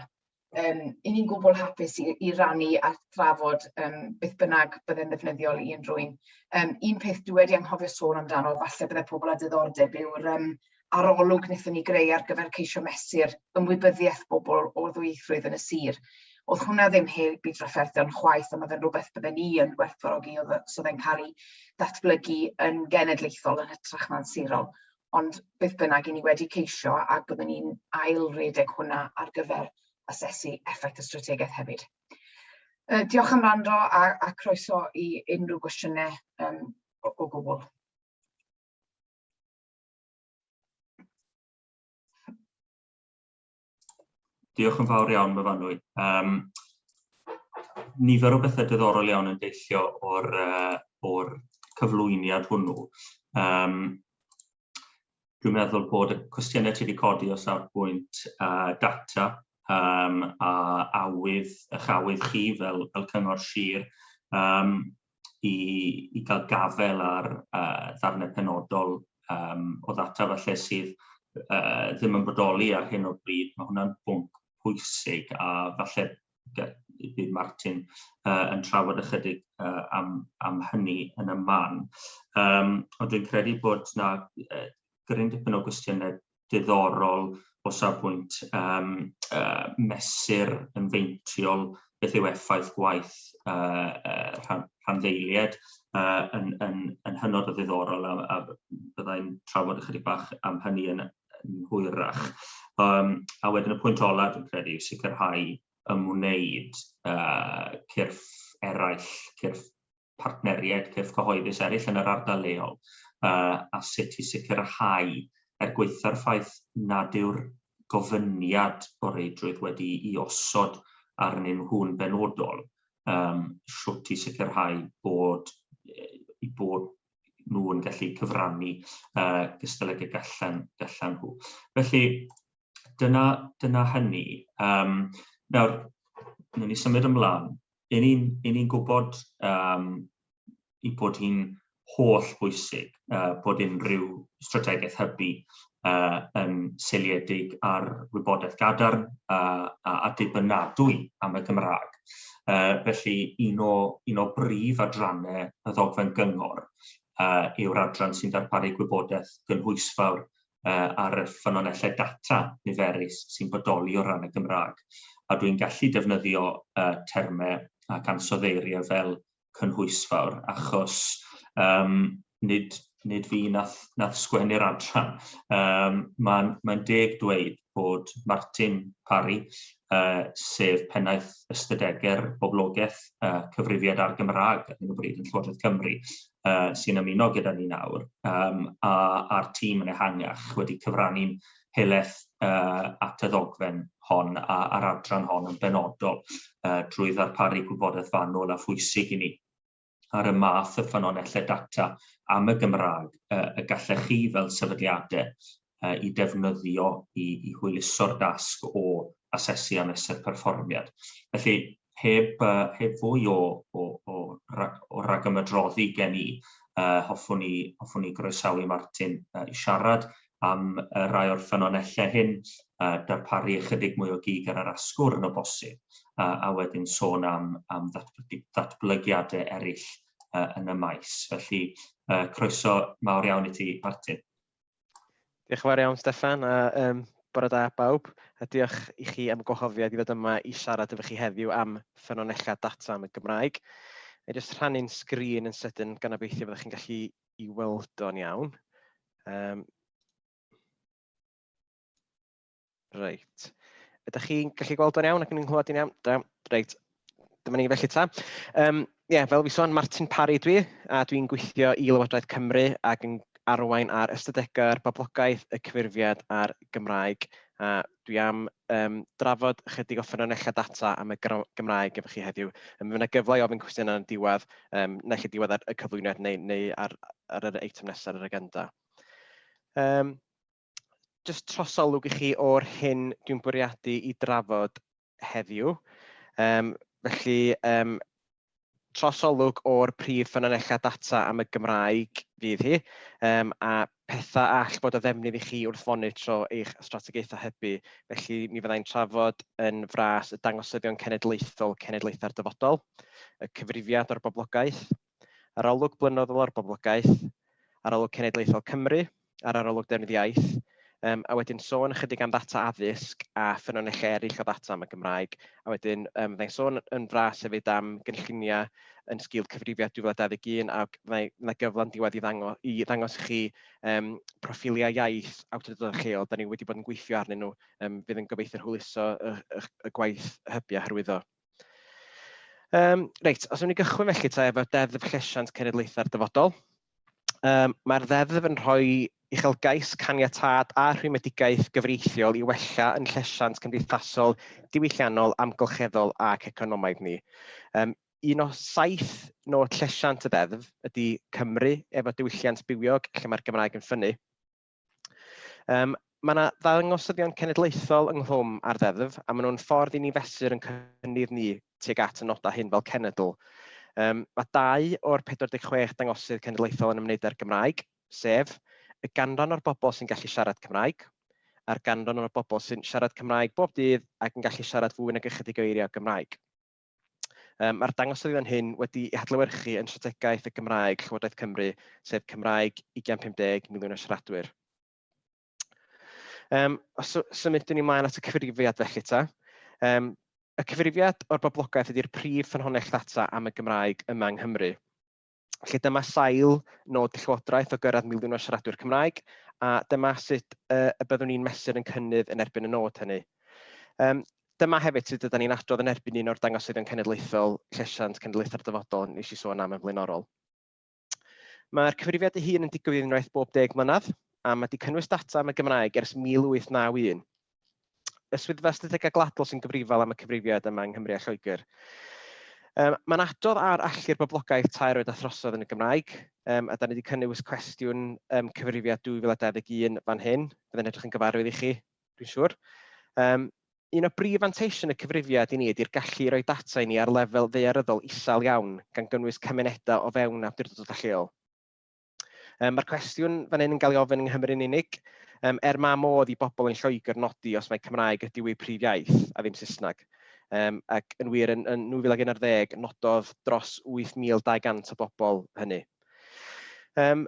yym 'y ni'n gwbl hapus i i rannu a thrafod yym beth bynnag byddai'n ddefnyddiol i unrhywun. Yym un peth dwi wedi anghofio sôn amdano, falle byddai pobl â diddordeb yw'r yym arolwg wnaethon ni greu ar gyfer ceisio mesur ymwybyddiaeth bobl o ddwyieithrwydd yn y sir. Oedd hwnna ddim heb i drafferthion chwaith, ond oedd e'n rhywbeth bydden ni yn gwerthfawrogi oedd os oedd e'n cael ei ddatblygu yn genedlaethol yn hytrach na'n sirol. Ond beth bynnag, i ni wedi ceisio ac byddwn ni'n ail-redeg hwnna ar gyfer asesu effaith y strategaeth hefyd. Uh, diolch am rando a, a croeso i unrhyw gwestiynau um, o, o gwbl. Diolch yn fawr iawn, Myfanwy. Um, nifer o bethau diddorol iawn yn deillio o'r, uh, or cyflwyniad hwnnw. Um, dwi'n meddwl bod y cwestiynau ti wedi codi o safbwynt uh, data um, a awydd, eich awydd chi fel, fel cyngor sir. Um, i, i gael gafel ar uh, ddarnau penodol um, o ddata falle sydd uh, ddim yn bodoli ar hyn o bryd. Mae hwnna'n bwnc pwysig a falle bydd Martin uh, yn trafod ychydig uh, am, am hynny yn y man. Um, ond dwi'n credu bod yna uh, gryn dipyn o gwestiynau diddorol o safbwynt um, uh, mesur yn feintiol beth yw effaith gwaith uh, uh, rhan, rhanddeiliaid uh, yn, yn, yn hynod o ddiddorol a, a byddai'n trafod ychydig bach am hynny yn, yn hwyrach. Um, a wedyn y pwynt olaf dwi'n credu yw sicrhau ymwneud uh, cyrff eraill, cyrff partneriaid cyrff cyhoeddus eraill yn yr ardal leol a sut i sicrhau, er gwaetha'r ffaith nad yw'r gofyniad o reidrwydd wedi'i osod arnyn nhw'n benodol, sut i sicrhau bod eu bod nhw yn gallu cyfrannu gystal ag y gallan nhw. Felly, dyna hynny. Nawr, newn ni symud ymlaen. yn ni'n yn ni gwybod um, i bod hi'n holl bwysig uh, bod unrhyw strategaeth hybu uh, yn seiliedig ar wybodaeth gadarn uh, a, a dibynadwy am y Gymraeg. Uh, felly, un o, un o brif adrannau y ddogfen gyngor uh, yw'r adran sy'n darparu gwybodaeth gynhwysfawr uh, ar y ffynonellau data niferus sy'n bodoli o ran y Gymraeg, a dwi'n gallu defnyddio uh, termau ac ansoddeiriau fel cynhwysfawr, achos um, nid, nid fi nath, nath sgwennu'r adran. Um, Mae'n mae deg dweud bod Martin Parry, uh, sef pennaeth ystadegau'r boblogaeth uh, cyfrifiad ar Gymraeg ar hyn o bryd yn Llywodraeth Cymru, uh, sy'n ymuno gyda ni nawr, um, a, a'r tîm yn ehangach wedi cyfrannu'n heleth uh, at y ddogfen hon a, a'r adran hon yn benodol uh, drwy ddarparu gwybodaeth fanwl a phwysig i ni. ar y math o ffynonellau data am y Gymraeg y gallech chi fel sefydliadau i defnyddio i, i hwyluso'r dasg o asesu a mesur perfformiad. Felly, heb, heb fwy o, o, o, o ragymydroddi gen i, uh, hoffwn i, hoffwn i groesawu Martin uh, i siarad am y rhai o'r ffynonellau hyn, a darparu ychydig mwy o gig ar yr asgwrn yn o bosib, a, a wedyn sôn am, am ddatblygu, ddatblygiadau eraill uh, yn y maes. Felly, uh, croeso mawr iawn i ti, Martin. Diolch yn fawr iawn, Stefan, a um, bore da bawb, a diolch i chi am y gwahoddiad i ddod yma i siarad efo chi heddiw am ffynonellau data am y Gymraeg. Mae'n jyst rhannu'n sgrin yn sydyn gan obeithio fyddwch chi'n gallu i weld o'n iawn. Um, reit. Ydych chi'n gallu gweld o'n iawn ac yn nghlywed i'n iawn? Da, reit. Dyma ni felly ta. Um, yeah, fel fi sôn, Martin Parry dwi, a dwi'n gweithio i Lywodraeth Cymru ac yn arwain ar ystadegau'r boblogaeth, y cyfurfiad a'r Gymraeg. A Dwi am yym drafod ychydig o ffynonellau data am y gr- Gymraeg efo chi heddiw. Yym, Fydd 'na gyfle i ofyn cwestiynau yn y diwedd, yym, naill ai diwedd y cyflwyniad neu neu ar ar yr eitem nesaf ar yr agenda. Yym jyst trosolwg i chi o'r hyn dwi'n bwriadu ei drafod heddiw. Um, felly, um, trosolwg o'r prif ffynonellau data am y Gymraeg fydd hi, um, a pethau all bod o ddefnydd i chi wrth fonitro eich strategaethau hybu. Felly mi fyddai'n trafod yn fras y dangosyddion cenedlaethol cenedlaethau'r dyfodol, y cyfrifiad o'r boblogaeth, Arolwg Blynyddol ar Boblogaeth, Arolwg Cenedlaethol Cymru a'r Arolwg Defnydd Iaith, um, a wedyn sôn ychydig am ddata addysg a ffynonellau eraill o ddata am y Gymraeg, a wedyn um, fyddai'n sôn yn fras hefyd am gynlluniau yn sgil cyfrifiad 2021 a fyddai gyfle'n diwedd i ddangos, i ddangos i chi um, proffiliau iaith awdurdodau lleol, da ni wedi bod yn gweithio arnyn nhw, um, fydd yn gobeithio hwyluso y, y, y gwaith hybiau hyrwyddo. Um, reit, os yw'n ni gychwyn felly ta efo'r deddf llesiant cenedlaethau'r dyfodol, um, mae'r ddeddf yn rhoi uchelgais caniatad a rhwymedigaeth gyfreithiol i wella yn llesiant cymdeithasol, diwylliannol, amgylcheddol ac economaidd ni. Um, un o saith nod llesiant y ddeddf ydy Cymru efo diwylliant bywiog lle mae'r Gymraeg yn ffynnu. Um, Mae yna ddangosyddion cenedlaethol ynghlwm ar ddeddf, a maen nhw'n ffordd i ni fesur yn cynnydd ni tuag at y nodau hyn fel cenedl. Um, mae dau o'r 46 dangosydd cenedlaethol yn ymwneud â'r Gymraeg, sef y ganran o'r bobl sy'n gallu siarad Cymraeg, a'r ganran o'r bobl sy'n siarad Cymraeg bob dydd ac yn gallu siarad fwy nag ychydig o eiriau Gymraeg. Mae'r dangosydd fan hyn wedi ei hadlewyrchu yn Strategaeth y Gymraeg Llywodraeth Cymru, sef Cymraeg 2050, miliwn o siaradwyr. Um, os symudwn ni ymlaen at y cyfrifiad felly ta. Um, y cyfrifiad o'r boblogaeth ydy'r prif ffynhonnell ddata am y Gymraeg yma yng Nghymru. Felly dyma sail nod y Llywodraeth o gyrraedd miliwn o siaradwyr Cymraeg, a dyma sut uh, y byddwn ni'n mesur yn cynnydd yn erbyn y nod hynny. Um, dyma hefyd sut ydym ni'n adrodd yn erbyn un o'r dangosyddion cenedlaethol, llesiant cenedlaethau'r dyfodol, nes i sôn am yn flaenorol. Mae'r cyfrifiad ei hun yn digwydd unwaith bob deg mlynedd, a mae wedi cynnwys data am y Gymraeg ers 1891. y Swyddfa Ystadegau Gwladol sy'n gyfrifol am y cyfrifiad yma yng Nghymru a Lloegr. Um, mae'n adodd ar allu'r boblogaeth tair oed a throsodd yn y Gymraeg, um, a da ni wedi cynnwys cwestiwn um, cyfrifiad 2021 fan hyn, bydd yn edrych yn gyfarwydd i chi, dwi'n siŵr. Um, un o brif fanteision y cyfrifiad i ni ydy'r gallu i roi data i ni ar lefel ddearyddol isel iawn, gan gynnwys cymunedau o fewn awdurdod lleol. Um, Mae'r cwestiwn fan hyn yn cael ei ofyn yng Nghymru'n unig. Um, er mae modd i bobl yn Lloegr nodi os mae Cymraeg ydyw eu prif iaith a ddim Saesneg. Um, ac yn wir, yn, yn 2011, nododd dros 8,200 o bobl hynny. Um,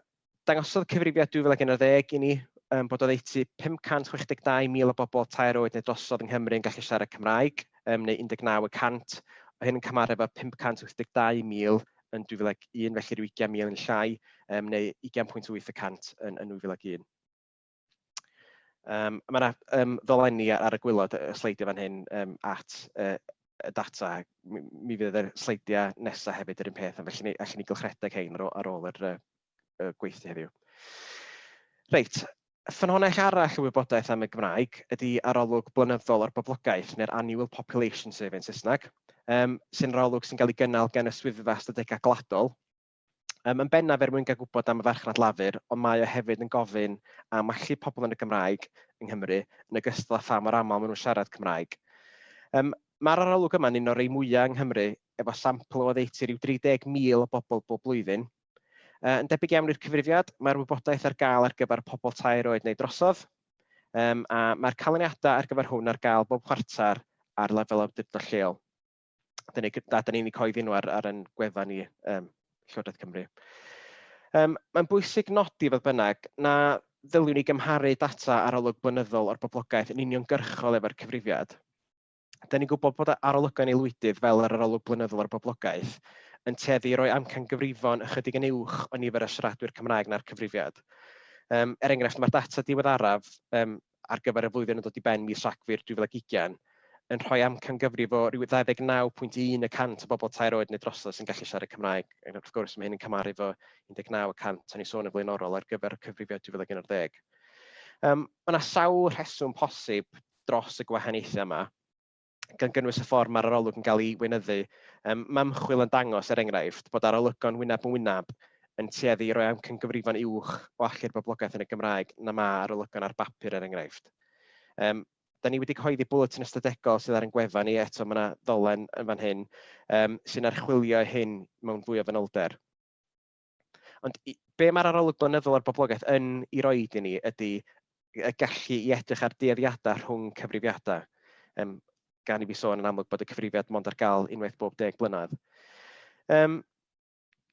dangosodd cyfrifiad 2011 i ni um, bod oddeutu 562,000 o bobl tair oed neu drosodd yng Nghymru yn gallu siarad Cymraeg, um, neu 19 y cant, o hyn yn cymharu efo 582,000 yn 2001, felly rhyw 20,000 yn llai, um, neu 20.8 y cant yn, yn 2001. Um, mae yna um, ddolenni ar y gwylod y sleidiau fan hyn um, at uh, y data. Mi, mi fydd y sleidiau nesaf hefyd yr un peth, felly ni, allan ni gylchredeg hein ar, ar ôl yr, uh, y gweithdy heddiw. Reit, ffynhonnell arall y wybodaeth am y Gymraeg ydy arolwg blynyddol o'r boblogaeth, neu'r Annual Population Survey yn Saesneg, um, sy'n arolwg sy'n cael ei gynnal gan y Swyddfa Ystadegau Gwladol, um, yn bennaf er mwyn gael gwybod am y farchnad lafur, ond mae o hefyd yn gofyn am allu pobl yn y Gymraeg yng Nghymru, yn ogystal â pha mor aml maen nhw'n siarad Cymraeg. Um, Mae'r arolwg yma'n un o'r rei mwyaf yng Nghymru, efo sampl o oddeutu rhyw 30,000 o bobl bob blwyddyn, Yy yn debyg iawn i'r cyfrifiad, mae'r wybodaeth ar gael ar gyfer pobl tair oed neu drosodd, um, a mae'r canlyniadau ar gyfer hwn ar gael bob chwarter ar lefel awdurdod lleol. Da ni'n da, da ni coeddi nhw ar, ar ein gwefan ni, um, Llywodraeth Cymru. Um, Mae'n bwysig nodi, fodd bynnag, na ddyliwn ni gymharu data arolwg blynyddol o'r boblogaeth yn uniongyrchol efo'r cyfrifiad. dan ni'n gwybod bod arolygon aelwydydd, fel yr arolwg blynyddol ar boblogaeth, yn tueddu i roi amcan gyfrifon ychydig yn uwch o nifer y siaradwyr Cymraeg na'r cyfrifiad. Um, er enghraifft, mae'r data diweddaraf um, ar gyfer y flwyddyn yn dod i ben mis Rhagfyr 2020 yn rhoi amcan gyfrif o ryw 29.1 y cant o bobl tair oed neu drosodd sy'n gallu siarad Cymraeg. Ac wrth gwrs, mae hyn yn cymaru fo 19 y cant o'n i sôn yn flaenorol ar gyfer y cyfrifiad 2011. Um, mae yna sawl rheswm posib dros y gwahaniaethau yma, gan gynnwys y ffordd mae'r arolwg yn cael ei weinyddu. Yym, mae ymchwil yn dangos, er enghraifft, bod arolygon wyneb yn wyneb yn tueddu i roi amcangyfrifon uwch o allu'r boblogaeth yn y Gymraeg na mae arolygon ar bapur, er enghraifft. Um, da ni wedi cyhoeddi bwletin ystadegol sydd ar ein gwefan ni, eto mae yna ddolen yn fan hyn, um, sy'n archwilio hyn mewn fwy o fanylder. Ond be mae'r arolwg blynyddol ar boblogaeth yn ei roed i ni ydy y gallu i edrych ar dueddiadau rhwng cyfrifiadau. Um, gan i fi sôn yn amlwg bod y cyfrifiad mond ar gael unwaith bob deg blynedd. Um,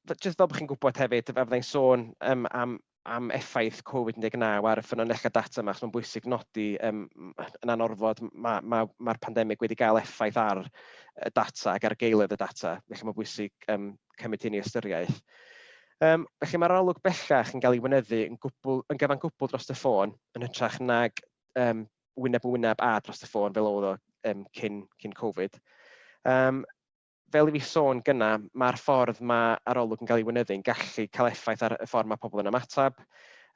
just fel bod chi'n gwybod hefyd, fe fyddai'n sôn um, am, am effaith Covid-19 ar y ffynonellau data yma, achos mae'n bwysig nodi um, yn anorfod mae'r ma, ma, ma pandemig wedi cael effaith ar y data ac ar geiledd y data, felly mae'n bwysig um, cymryd hyn i ystyriaeth. Um, felly mae'r arolwg bellach yn cael ei wynyddu yn, gwbl, yn gyfan gwbl dros y ffôn, yn hytrach nag um, wyneb yn wyneb a dros y ffôn fel oedd o um, cyn, cyn Covid. Um, fel i fi sôn gyna, mae'r ffordd mae arolwg yn cael ei wynyddu yn gallu cael effaith ar y ffordd mae pobl yn ymateb.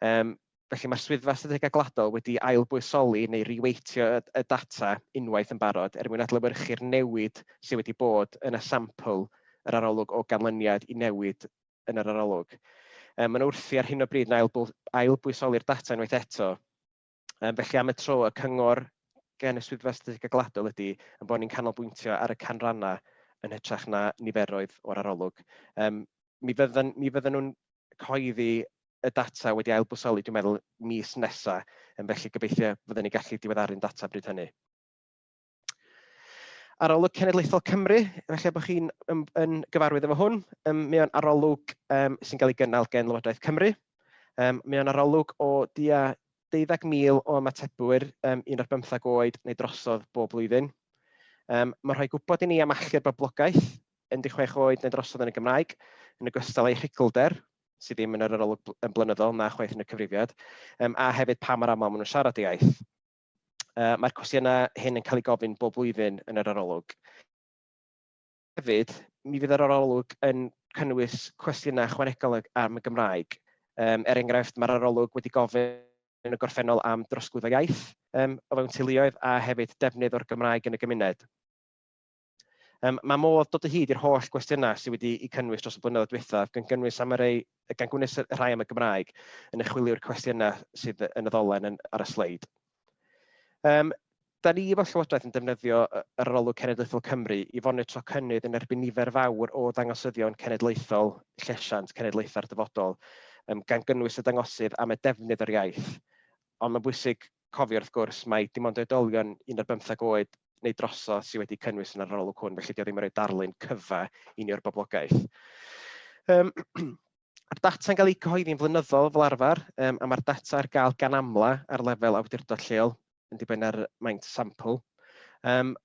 Um, Felly, mae'r Swyddfa Strategaeth Gwladol wedi ail-bwysoli neu re-weightio y y data unwaith yn barod er mwyn adlewyrchu'r newid sydd wedi bod yn y sampl yr arolwg o ganlyniad i newid yn yr arolwg. Yym, mae'n wrthi ar hyn o bryd yn ail-bw- ail-bwysoli'r data unwaith eto. Yym, felly, am y tro, y cyngor gan y Swyddfa Strategaeth Gwladol ydy ein bod ni'n canolbwyntio ar y canrannau yn hytrach na niferoedd o'r arolwg. Yym, mi fyddan mi fyddan nhw'n cyhoeddi y data wedi ailbwysoli dwi'n meddwl mis nesa, yym felly gobeithio fydden ni'n gallu diweddaru'n data bryd hynny. Arolwg Cenedlaethol Cymru, felly bod chi'n yn, yn gyfarwydd efo hwn, um, mae o'n arolwg um, sy'n cael ei gynnal gen Lywodraeth Cymru. Um, mae o'n arolwg o dia 12,000 o ymatebwyr um, un o'r bymthag oed neu drosodd bob blwyddyn. Um, mae'n rhoi gwybod i ni am allu'r boblogaeth 16 oed neu drosodd yn y Gymraeg, yn ogystal â'i rhugglder, sydd ddim yn yr arolwg yn blynyddol na chwaith yn y cyfrifiad, um, a hefyd pa mor aml maen nhw'n siarad y iaith. Uh, Mae'r cwestiynau hyn yn cael ei gofyn bob blwyddyn yn yr arolwg. Hefyd, mi fydd yr arolwg yn cynnwys cwestiynau chwanegol am y Gymraeg. Um, er enghraifft, mae'r arolwg wedi gofyn yn y gorffennol am drosglwyddo iaith um, o fewn teuluoedd a hefyd defnydd o'r Gymraeg yn y gymuned. Um, mae modd dod o hyd i'r holl gwestiynau sydd wedi eu cynnwys dros y blynyddoedd diwethaf, gan gynnwys am y rei, gan gwnes y rhai am y Gymraeg yn y chwilio'r cwestiynau sydd yn y ddolen yn, ar y sleid. Um, da ni efo Llywodraeth yn defnyddio yr arolwg cenedlaethol Cymru i fonitro cynnydd yn erbyn nifer fawr o ddangosyddion cenedlaethol llesiant cenedlaethau'r dyfodol, um, gan gynnwys y dangosydd am y defnydd yr iaith. Ond mae'n bwysig cofio wrth gwrs mai dim ond oedolion un ar bymtheg oed neu drosodd sydd wedi cynnwys yn yr arolwg hwn, felly 'di o ddim yn rhoi darlun cyfa i ni o'r boblogaeth. Um, Mae'r data'n cael eu cyhoeddi'n flynyddol fel arfer, um, a mae'r data ar gael gan amla ar lefel awdurdod lleol, yn dibynnu ar maint sampl. Um,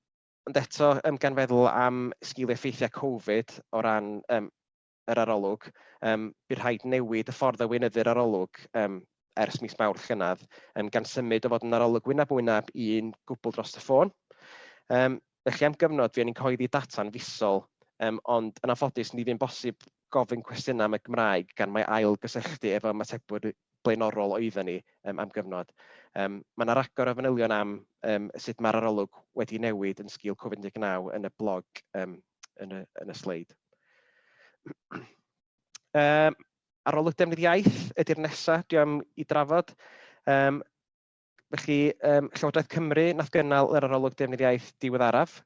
ond eto, um, gan feddwl am sgil effeithiau Covid o ran um, yr arolwg, yym, bu rhaid newid y ffordd a weinyddir arolwg yym ers mis Mawrth llynedd, yym, gan symud o fod yn arolwg wyneb yn wyneb i un gwbl dros y ffôn. Yym, felly am gyfnod fuon ni'n cyhoeddi data'n fisol, yym, ond yn anffodus ni fu'n bosib gofyn cwestiynau am y Gymraeg gan mai ail gysylltu efo ymatebwyr blaenorol oedden ni yym, am gyfnod. Yym, mae yna ragor o fanylion am yym, sut mae'r arolwg wedi newid yn sgil Covid-19 yn y blog yym, yn y, yn y sleid. um, arolwg defnydd iaith ydy'r nesaf, dwi am i drafod. Um, felly, um, Llywodraeth Cymru nath gynnal yr arolwg defnydd iaith diweddaraf.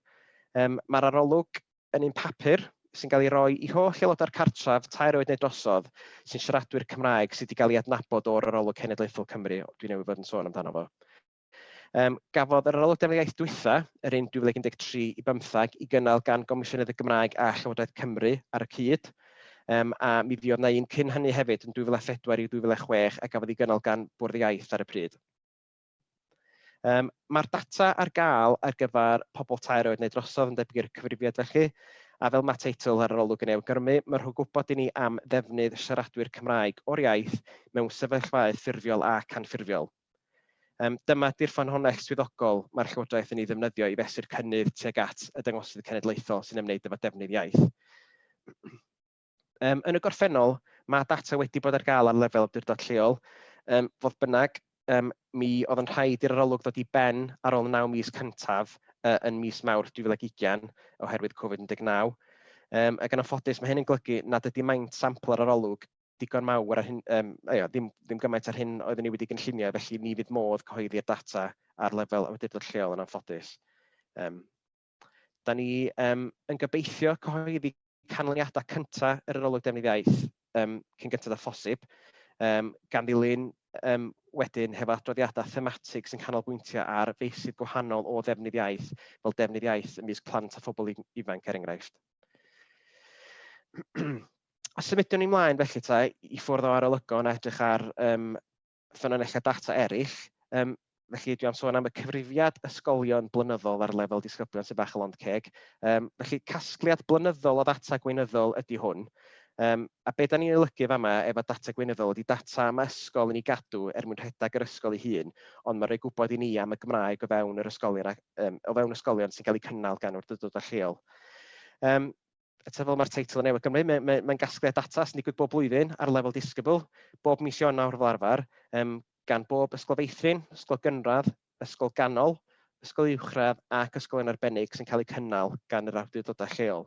Um, Mae'r arolwg yn un papur sy'n cael ei roi i holl aelodau'r cartref tair oed neu drosodd sy'n siaradwyr Cymraeg sydd wedi cael ei adnabod o'r arolwg cenedlaethol Cymru, dwi'n newydd fod yn sôn amdano fo. Yym, gafodd yr Arolygiad am yr Iaith dwytha, yr un 2013 i bymtheg, i gynnal gan Gomisiynydd y Gymraeg a Llywodraeth Cymru ar y cyd, um, a mi fuodd na un cyn hynny hefyd yn 2004 i 2006 a gafodd ei gynnal gan Bwrdd Iaith ar y pryd. Um, Mae'r data ar gael ar gyfer pobl tair oed neu drosodd yn debyg i'r cyfrifiad felly, a fel mae teitl yr arolwg yn ei awgrymu, mae rhywun gwybod i ni am ddefnydd siaradwyr Cymraeg o'r iaith mewn sefyllfaoedd ffurfiol ac anffurfiol. Yym, dyma ydi'r ffynhonnell swyddogol mae'r Llywodraeth yn ei ddefnyddio i fesur cynnydd tuag at y dangosydd cenedlaethol sy'n ymwneud efo defnydd iaith. Yym, yn y gorffennol, mae data wedi bod ar gael ar lefel awdurdod lleol. Yym, fodd bynnag, um, mi oedd yn rhaid i'r arolwg ddod i ben ar ôl 9 mis cyntaf uh, yn mis Mawrth 2020 oherwydd Covid-19. Um, ac yn anffodus, mae hyn yn golygu nad ydy maint sampl yr arolwg digon mawr ar hyn, um, aio, ddim, ddim gymaint ar hyn oeddwn ni wedi gynllunio, felly ni fydd modd cyhoeddi'r data ar lefel awdurdod lleol yn anffodus. Um, da ni um, yn gobeithio cyhoeddi canlyniadau cyntaf yr arolwg defnydd iaith um, cyn gyntaf â phosib, um, gan ddilyn um, wedyn hefo adroddiadau thematig sy'n canolbwyntio ar feysydd gwahanol o ddefnydd iaith, fel defnydd iaith ymysg plant a phobl ifanc er enghraifft. a symudiwn ni mlaen felly ta i ffwrdd o arolygon a edrych ar um, ffynonellau data eraill. Um, felly dwi am sôn am y cyfrifiad ysgolion blynyddol ar lefel disgyblion sy'n bach o lond ceg. Um, felly casgliad blynyddol o ddata gweinyddol ydy hwn. Um, a beth da ni'n olygu fa yma efo data gweinyddol ydy data am ysgol yn ei gadw er mwyn rhedeg yr ysgol ei hun, ond mae'n rhoi gwybod i ni am y Gymraeg o fewn yr ysgolion, um, o fewn ysgolion sy'n cael eu cynnal gan wrthydod lleol. Um, eto fel mae'r teitl yn ei awgrymu, mae, mae, mae'n gasgliad data sy'n digwydd bob blwyddyn ar lefel disgybl, bob mis Ionawr fel arfer, um, gan bob ysgol feithrin, ysgol gynradd, ysgol ganol, ysgol uwchradd ac ysgol yn arbennig sy'n cael eu cynnal gan yr awdurdodau lleol.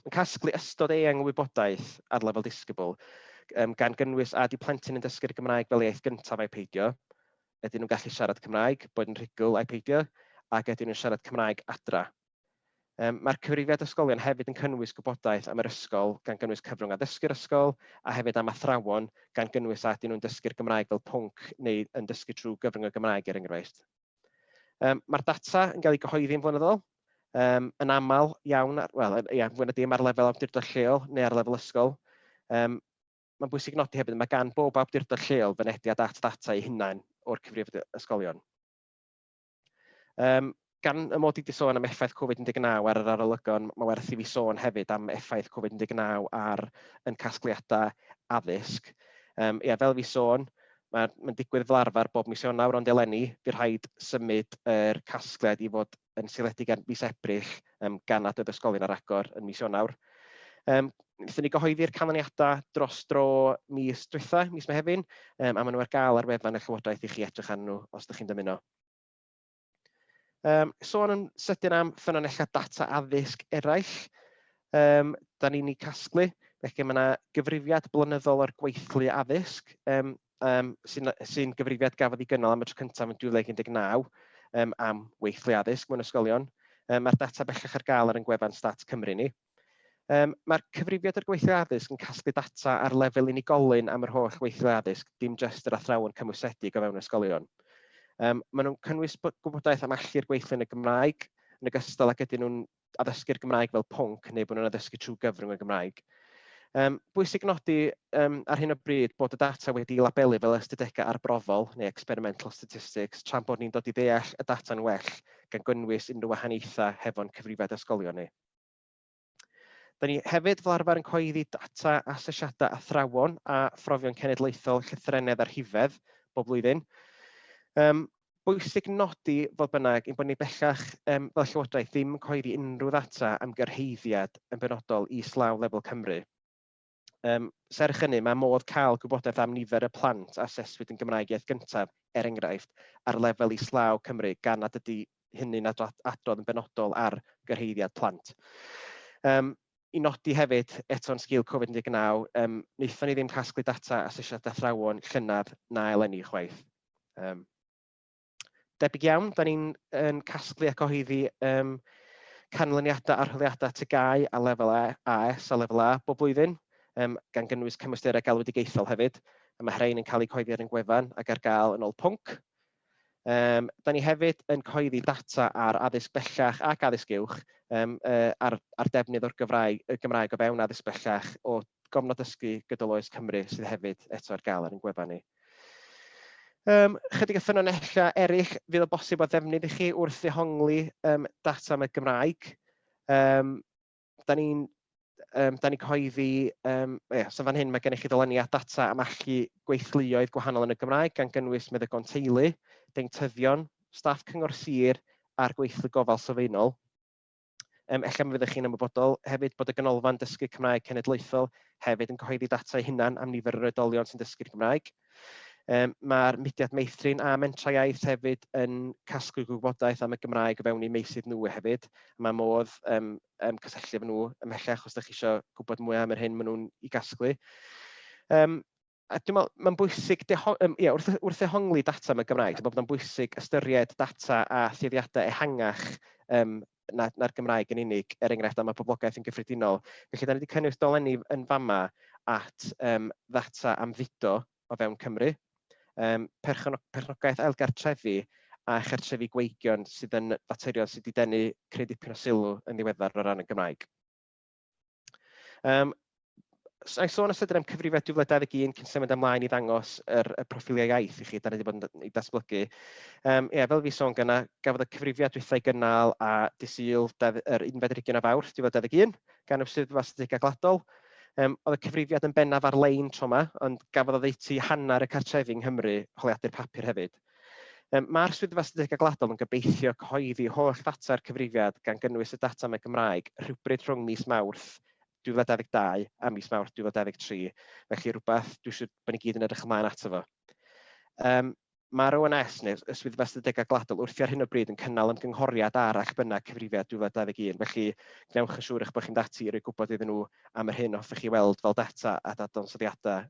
Mae'n casglu ystod eang o wybodaeth ar lefel disgybl, um, gan gynnwys a di plentyn yn dysgu'r Gymraeg fel iaith gyntaf a'i peidio, ydyn nhw'n gallu siarad Cymraeg, boed yn rhugl a'i peidio, ac ydyn nhw'n siarad Cymraeg adra. Mae'r Cyfrifiad Ysgolion hefyd yn cynnwys gwybodaeth am yr ysgol, gan gynnwys cyfrwng addysgu'r ysgol, a hefyd am athrawon, gan gynnwys a ydyn nhw'n dysgu'r Gymraeg fel pwnc neu yn dysgu trwy gyfrwng y Gymraeg, er enghraifft. Mae'r data yn cael ei gyhoeddi yn flynyddol, um, yn aml iawn, wel, ia, fwy na dim ar lefel awdurdod lleol neu ar lefel ysgol. Um, Mae'n bwysig nodi hefyd, mae gan bob awdurdod lleol fynediad at ddata ei hunain o'r cyfrifiad ysgolion. Um, gan y mod i wedi sôn am effaith Covid-19 ar yr arolygon, mae werth i fi sôn hefyd am effaith Covid-19 ar yn casgliadau addysg. Um, ia, fel fi sôn, mae'n ma digwydd fel arfer bob mis Ionawr, ond eleni, fi rhaid symud yr er casgliad i fod yn seiliedig ar fis Ebrill yym gan aded ysgolion ar agor yn mis Ionawr. Yym wnaethon ni gyhoeddi'r canlyniadau dros dro mis diwetha', mis Mehefin, yym a maen nhw ar gael ar wefan y Llywodraeth i chi edrych arnyn nhw os dach chi'n dymuno. Yym sôn yn sydyn am ffynonellau data addysg eraill yym dan ni'n eu casglu, felly mae 'na gyfrifiad blynyddol o'r gweithlu addysg yym um, sy'n sy gyfrifiad gafodd ei gynnal am y tro cyntaf yn 2019 um, am weithlu addysg mewn ysgolion. Um, Mae'r data bellach ar gael ar yn gwefan Stat Cymru ni. Um, Mae'r cyfrifiad o'r gweithlu addysg yn casglu data ar lefel unigolyn am yr holl weithlu addysg, dim jyst yr athrawon cymwysedig o fewn ysgolion. Um, maen nhw'n cynnwys gwybodaeth am allu'r gweithlu yn y Gymraeg, yn ogystal ag ydyn nhw'n addysgu'r Gymraeg fel pwnc neu bod nhw'n addysgu trwy gyfrwng y Gymraeg. Um, bwysig nodi um, ar hyn o bryd bod y data wedi labelu fel ystadegau arbrofol neu experimental statistics tra'n bod ni'n dod i ddeall y data'n well gan gynnwys unrhyw wahaniaethau hefo'n cyfrifiad ysgolion ni. Da ni hefyd fel arfer yn coeddi data asesiadau athrawon a phrofion cenedlaethol llythrennedd a rhifedd bob blwyddyn. Um, bwysig nodi, fodd bynnag, ein bod ni bellach yym fel Llywodraeth ddim yn cyhoeddi unrhyw ddata am gyrhaeddiad yn benodol islaw lefel Cymru. Yym, serch hynny, mae modd cael gwybodaeth am nifer y plant a aseswyd yn Gymraeg Iaith Gyntaf, er enghraifft, ar lefel islaw Cymru, gan nad ydy hynny'n adrodd yn benodol ar gyrhaeddiad plant. Yym, i nodi hefyd, eto'n sgil Covid-19, um, wnaethon ni ddim casglu data asesiad athrawon llynedd na eleni chwaith. Um, debyg iawn, da ni'n yn casglu ac oheiddi um, canlyniadau arholiadau tygau a lefel AS a lefel A bob blwyddyn, um, gan gynnwys cymwysterau galwedigaethol hefyd. Mae rhain yn cael eu coeddi ar ein gwefan ac ar gael yn ôl pwnc. Um, da ni hefyd yn coeddi data ar addysg bellach ac addysg uwch um, uh, ar, ar defnydd o'r Gymraeg, y Gymraeg o fewn addysg bellach o gofnod dysgu gydol oes Cymru sydd hefyd eto ar gael ar ein gwefan ni. Um, chydig o ffynonellau eraill fydd o bosib o ddefnydd i chi wrth ddehongli um, data am y Gymraeg. Um, da ni'n um, da ni cyhoeddi, um, yeah, so fan hyn mae gennych chi ddyluniad data am allu gweithluoedd gwahanol yn y Gymraeg gan gynnwys meddygon teulu, deintyddion, staff cyngor sir a'r gweithlu gofal sylfaenol. Yym, ella mi fyddech chi'n ymwybodol hefyd bod y Ganolfan Dysgu Cymraeg Cenedlaethol hefyd yn cyhoeddi data ei hunan am nifer yr oedolion sy'n dysgu'r Gymraeg. Um, Mae'r mudiad meithrin a mentrau iaith hefyd yn casglu gwybodaeth am y Gymraeg o fewn eu meysydd nhw hefyd. Mae modd um, um, cysylltu efo nhw ymhellach os ydych chi eisiau gwybod mwy am yr hyn maen nhw'n ei gasglu. Um, a dwi'n meddwl, mae'n bwysig deho- yym ia, wrth wrth ddehongli data yn y Gymraeg, dwi'n meddwl bod o'n bwysig ystyried data a thueddiadau ehangach yym na na'r Gymraeg yn unig, er enghraifft am y poblogaeth yn gyffredinol. Felly, da ni wedi cynnwys dolenni yn fama at yym ddata am fudo o fewn Cymru, yym perchno- perchnogaeth ailgartrefi a chartrefi gweigion sydd yn faterion sydd wedi denu creu dipyn o sylw yn ddiweddar o ran y Gymraeg. Um, I sôn os ydym am cyfrifedd 2021 cyn symud ymlaen i ddangos yr, y proffiliau iaith i chi, da ni wedi bod yn ei datblygu. Um, ie, fel fi sôn gyna, gafodd y cyfrifiad dwythau gynnal a disyl yr unfed rygyn o fawrth 2021 gan y Swyddfa Statistigau Gladol. Um, oedd y cyfrifiad yn bennaf ar-lein tro yma, ond gafodd oddeutu hanner y cartrefi yng Nghymru holiadur papur hefyd. Mae'r Swyddfa Statudegau Gwladol yn gobeithio cyhoeddi holl ddata'r cyfrifiad, gan gynnwys y data am y Gymraeg, rhywbryd rhwng mis Mawrth 2022 a mis Mawrth 2023, felly rhywbeth dwi'n siŵr bod ni gyd yn edrych ymlaen ato fo. Um, Mae'r ONS, neu y Swyddfa Statudegau Gwladol, wrthi ar hyn o bryd yn cynnal ymgynghoriad ar eich bynnag cyfrifiad 2021, felly gwnewch yn siŵr eich bod chi'n dati i roi gwybod iddyn nhw am yr hyn hoffech chi weld fel data a dadansoddiadau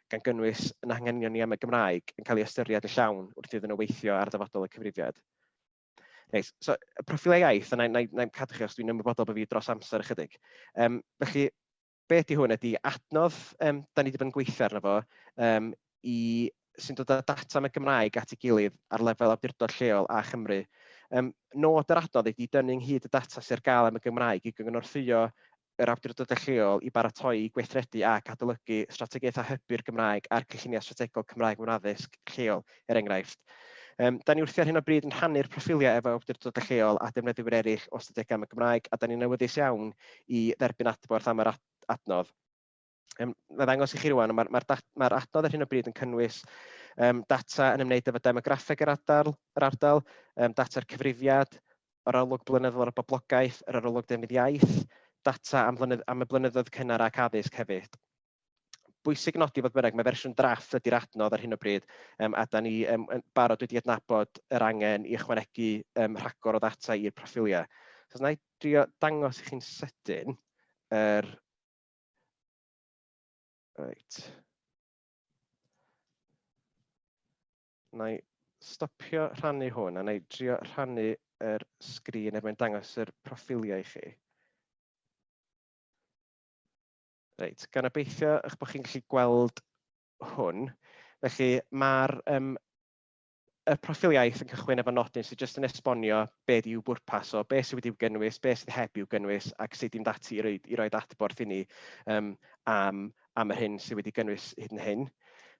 gan gynnwys yn anghenion ni am y Gymraeg, yn cael ei ystyried yn llawn wrth iddyn nhw weithio ar ddyfodol y cyfrifiad. Reit, so y profilau iaith, a na, na, na cadw chi os dwi'n ymwybodol bod fi dros amser ychydig. Um, felly, be ydy hwn ydy adnodd, um, da ni wedi bod yn gweithio arno fo, um, i sy'n dod â data am y Gymraeg at ei gilydd ar lefel awdurdod lleol a Chymru. Um, nod yr adnodd ydy dynnu ynghyd y data sy'n ar gael am y Gymraeg i gyngorthwyo yr awdurdodau lleol i baratoi, gweithredu ac adolygu strategaethau hybu'r Gymraeg a'r cynlluniau strategol Cymraeg mewn addysg lleol, er enghraifft. Um, da ni wrthi ar hyn o bryd yn rhannu'r proffiliau efo awdurdodau lleol a defnyddwyr eraill o ystadegau am y Gymraeg a da ni'n awyddus iawn i dderbyn adborth am yr adnodd. Um, na ddangos i chi rwan, mae'r ma ma, ma adnodd ar hyn o bryd yn cynnwys um, data yn ymwneud efo demograffeg yr ardal, yr ardal um, data'r cyfrifiad, yr arolwg blynyddol ar y boblogaeth, yr arolwg defnydd iaith, data am, blynydd, am y blynyddoedd cynnar ac addysg hefyd. Bwysig nodi fod bynnag, mae fersiwn draff ydy'r adnodd ar hyn o bryd, um, a da ni um, barod wedi adnabod yr angen i ychwanegu um, rhagor o ddata i'r proffiliau. So, na i drio dangos i chi'n sydyn yr er Reit. Na i stopio rhannu hwn a na i drio rhannu yr sgrin er mwyn dangos yr proffiliau i chi. Reit, gan obeithio eich bod chi'n gallu gweld hwn. Felly mae'r um, y proffil iaith yn cychwyn efo nodyn sydd jyst yn esbonio be yw bwrpas o, be sydd wedi'w gynnwys, be sydd heb i'w gynnwys ac sut i'n dati i roi, i roi adborth i ni um, am, am yr hyn sydd wedi gynnwys hyd yn hyn.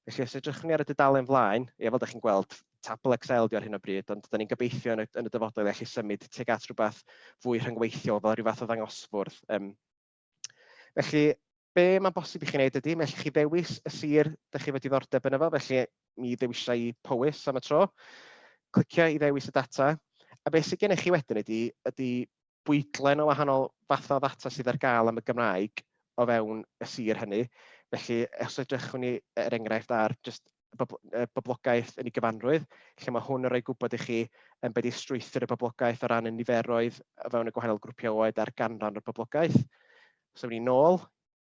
Felly os edrychwn ni ar y dudalen flaen, ie, fel ydych chi'n gweld, tabl Excel di ar hyn o bryd, ond da ni'n gobeithio yn y, yn y dyfodol i allu symud tuag at rhywbeth fwy rhyngweithiol fel rhyw fath o ddangosfwrdd um, Felly, be mae'n bosib i chi wneud ydy, mae chi ddewis y sir dych chi wedi ddordeb yn efo, felly mi ddewisau i Powys am y tro, clicio i ddewis y data, a beth sydd gennych chi wedyn ydy, ydy bwydlen o wahanol fathau o ddata sydd ar gael am y Gymraeg o fewn y sir hynny. Felly, os edrychwn ni, er enghraifft, ar just y boblogaeth yn ei gyfanrwydd, lle mae hwn yn rhoi gwybod i chi um, beth yw strwythur y boblogaeth o ran y niferoedd o fewn y gwahanol grwpiau oed a'r ganran o'r boblogaeth. So, ni'n nôl,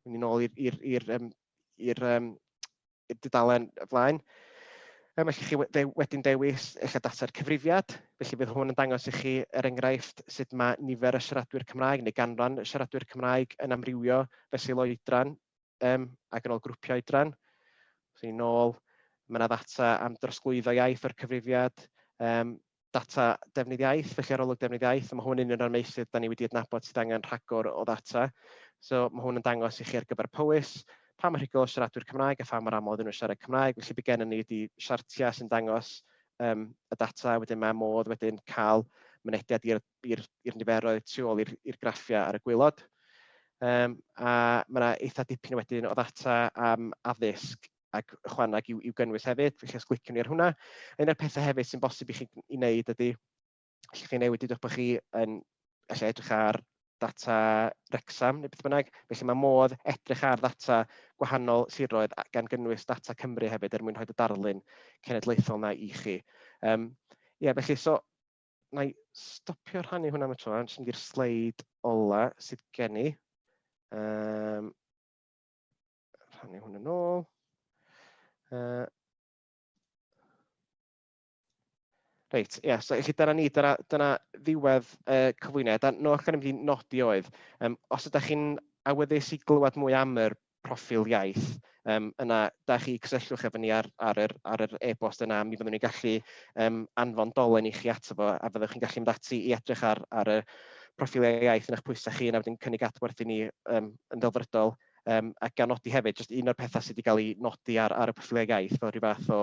ni'n nôl i'r um, um, dudalen flaen. Um, felly chi de, wedyn dewis eich data'r cyfrifiad, felly bydd hwn yn dangos i chi er enghraifft sut mae nifer y siaradwyr Cymraeg neu ganran y siaradwyr Cymraeg yn amrywio fesul oedran um, ac yn ôl grwpiau oedran. Os ni'n ôl, mae yna ddata am drosglwyddo iaith o'r cyfrifiad, um, data defnydd iaith, felly arolwg defnydd iaith, a mae hwn yn un o'r meysydd da ni wedi adnabod sydd angen rhagor o ddata. So mae hwn yn dangos i chi ar gyfer Powys, pa mor rhugl o siaradwyr Cymraeg a pha mor aml ydyn nhw'n siarad Cymraeg, felly bydd gennym ni wedi siartiau sy'n dangos um, y data, wedyn mae modd wedyn cael mynediad i'r i'r i'r niferoedd tu ôl i'r i'r graffiau ar y gwaelod. Um, a mae yna eitha dipyn wedyn o ddata am addysg ac ychwaneg i'w, i'w gynnwys hefyd, felly os gliciwn ni ar hwnna. Un o'r pethau hefyd sy'n bosib i chi i wneud ydy, allwch chi newid ydych bod chi yn allai edrych ar data Rexham neu beth bynnag, felly mae modd edrych ar ddata gwahanol siroedd gan gynnwys data Cymru hefyd er mwyn rhoi y darlun cenedlaethol yna i chi. Um, ie, felly, so na i stopio rhannu hwnna am y tro, jyst mynd i'r sleid ola sydd gen i. Um, rhannu hwn yn ôl. Uh, Reit, ie, yeah, so chi dyna ni, dyna, dyna ddiwedd uh, cyflwyniad. A no, allan i mynd i nodi oedd, um, os ydych chi'n awyddus i glywed mwy am yr proffil iaith, yym yna da chi cysylltwch efo ni ar ar yr ar yr e-bost yna, mi fyddwn ni'n gallu yym anfon dolen i chi ato fo, a fyddwch chi'n gallu mynd ati i edrych ar ar y proffiliau iaith yn eich pwysau chi, a wedyn cynnig adborth i ni yym yn ddelfrydol, yym a gan nodi hefyd, jyst un o'r petha sy' 'di cael ei nodi ar ar y proffiliau iaith fel ryw fath o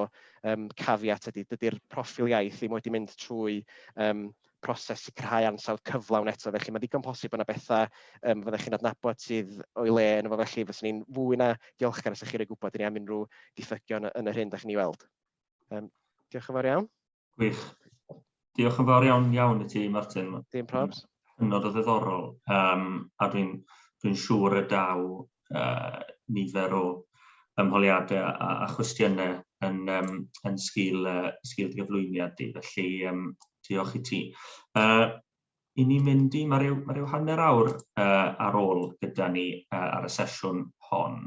yym caveat ydy, dydy'r proffil iaith ddim wedi mynd trwy yym proses sicrhau ansawdd cyflawn eto, felly mae'n ddigon posib bod yna bethau yym fyddech chi'n adnabod sydd o'i le ynddo fo, felly fyswn i'n fwy na diolchgar os ydych chi'n rhoi gwybod i ni am unrhyw ddiffygion yn yr hyn ydych chi'n ei weld. Um, diolch yn fawr iawn. Gwych. Diolch yn fawr iawn iawn i ti, Martin. Dim probs. Hynod o ddiddorol, um, a dwi'n dwi siŵr y daw uh, nifer o ymholiadau a, a chwestiynau yn, um, yn sgil, uh, sgil gyflwyniad di. Felly, um, Diolch i ti. Uh, I ni mynd i, mae rhyw, ma rhyw hanner awr uh, ar ôl gyda ni uh, ar y sesiwn hon.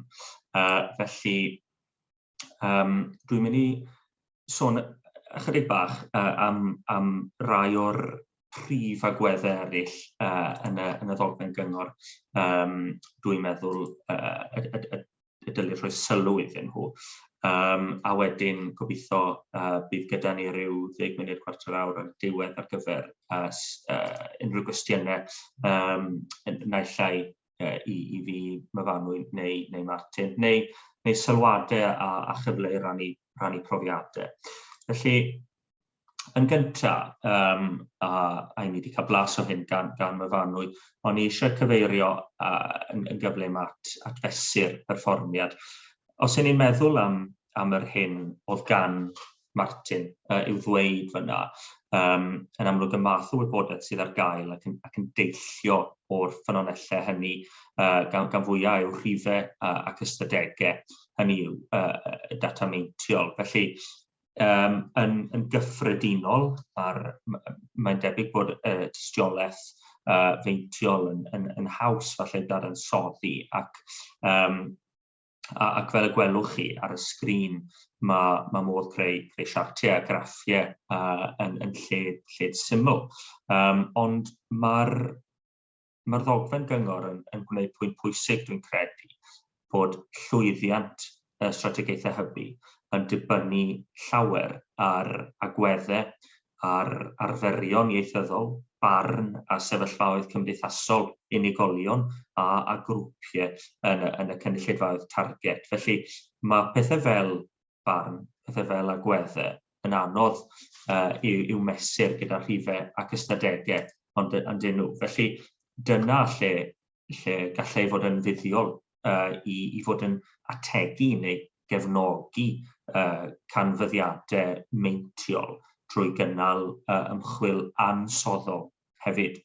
Uh, felly, um, dwi'n mynd i sôn ychydig bach uh, am, am rai o'r prif agweddau eraill uh, yn, y, yn y ddogfen gyngor, um, dwi'n meddwl, uh, y, y, y y dylid rhoi sylw iddyn nhw. Um, a wedyn gobeithio uh, bydd gyda ni rhyw ddeg munud cwarter awr ar diwedd ar gyfer uh, uh, unrhyw gwestiynau um, naill ai uh, i, i fi myfanwy neu, neu Martin, neu, neu sylwadau a, a chyfle i rannu, rannu profiadau. Felly, yn gynta, um, a, a i ni wedi cael blas o hyn gan, gan myfanwy, ond i eisiau cyfeirio uh, yn, yn gyflym at, at fesur perfformiad. Os yn ni'n meddwl am, am yr hyn oedd gan Martin uh, i'w ddweud fyna, um, yn amlwg y math o wybodaeth sydd ar gael ac yn, ac yn deillio o'r ffynonellau hynny uh, gan, gan fwyau yw rhifau uh, ac ystadegau hynny yw uh, data meintiol. Felly, um, yn, yn gyffredinol, a'r, mae'n debyg bod y uh, tystiolaeth uh, feintiol yn, yn, yn haws falle dadansoddi ac um, ac fel y gwelwch chi ar y sgrin, mae, mae modd creu, creu siartiau a graffiau uh, yn, yn lle, lle syml. Um, ond mae'r mae'r ddogfen gyngor yn, yn gwneud pwynt pwysig, dwi'n credu, bod llwyddiant y strategaethau hybu yn dibynnu llawer ar agweddau, ar arferion ieithyddol, barn a sefyllfaoedd cymdeithasol unigolion a, a grwpiau yn, yn y cynulleidfaoedd target. Felly mae pethau fel farn, pethau fel agwedde, yn anodd uh, i'w, i'w mesur gyda rhifau ac ystadegau, ond yn dyn nhw. Felly dyna lle, lle gallai fod yn fuddiol uh, i, i fod yn ategu neu gefnogi uh, canfyddiadau meintiol drwy gynnal uh, ymchwil ansoddol hefyd.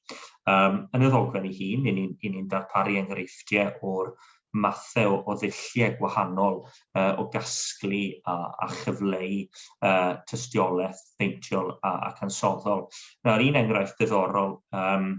Um, yn y ddogfen ei hun, i ni'n ni, ni darparu enghreifftiau o'r mathau o ddulliau gwahanol uh, o gasglu a, a chyfleu uh, tystiolaeth beintiol a, a cansoddol. Nawr, un enghraifft diddorol um,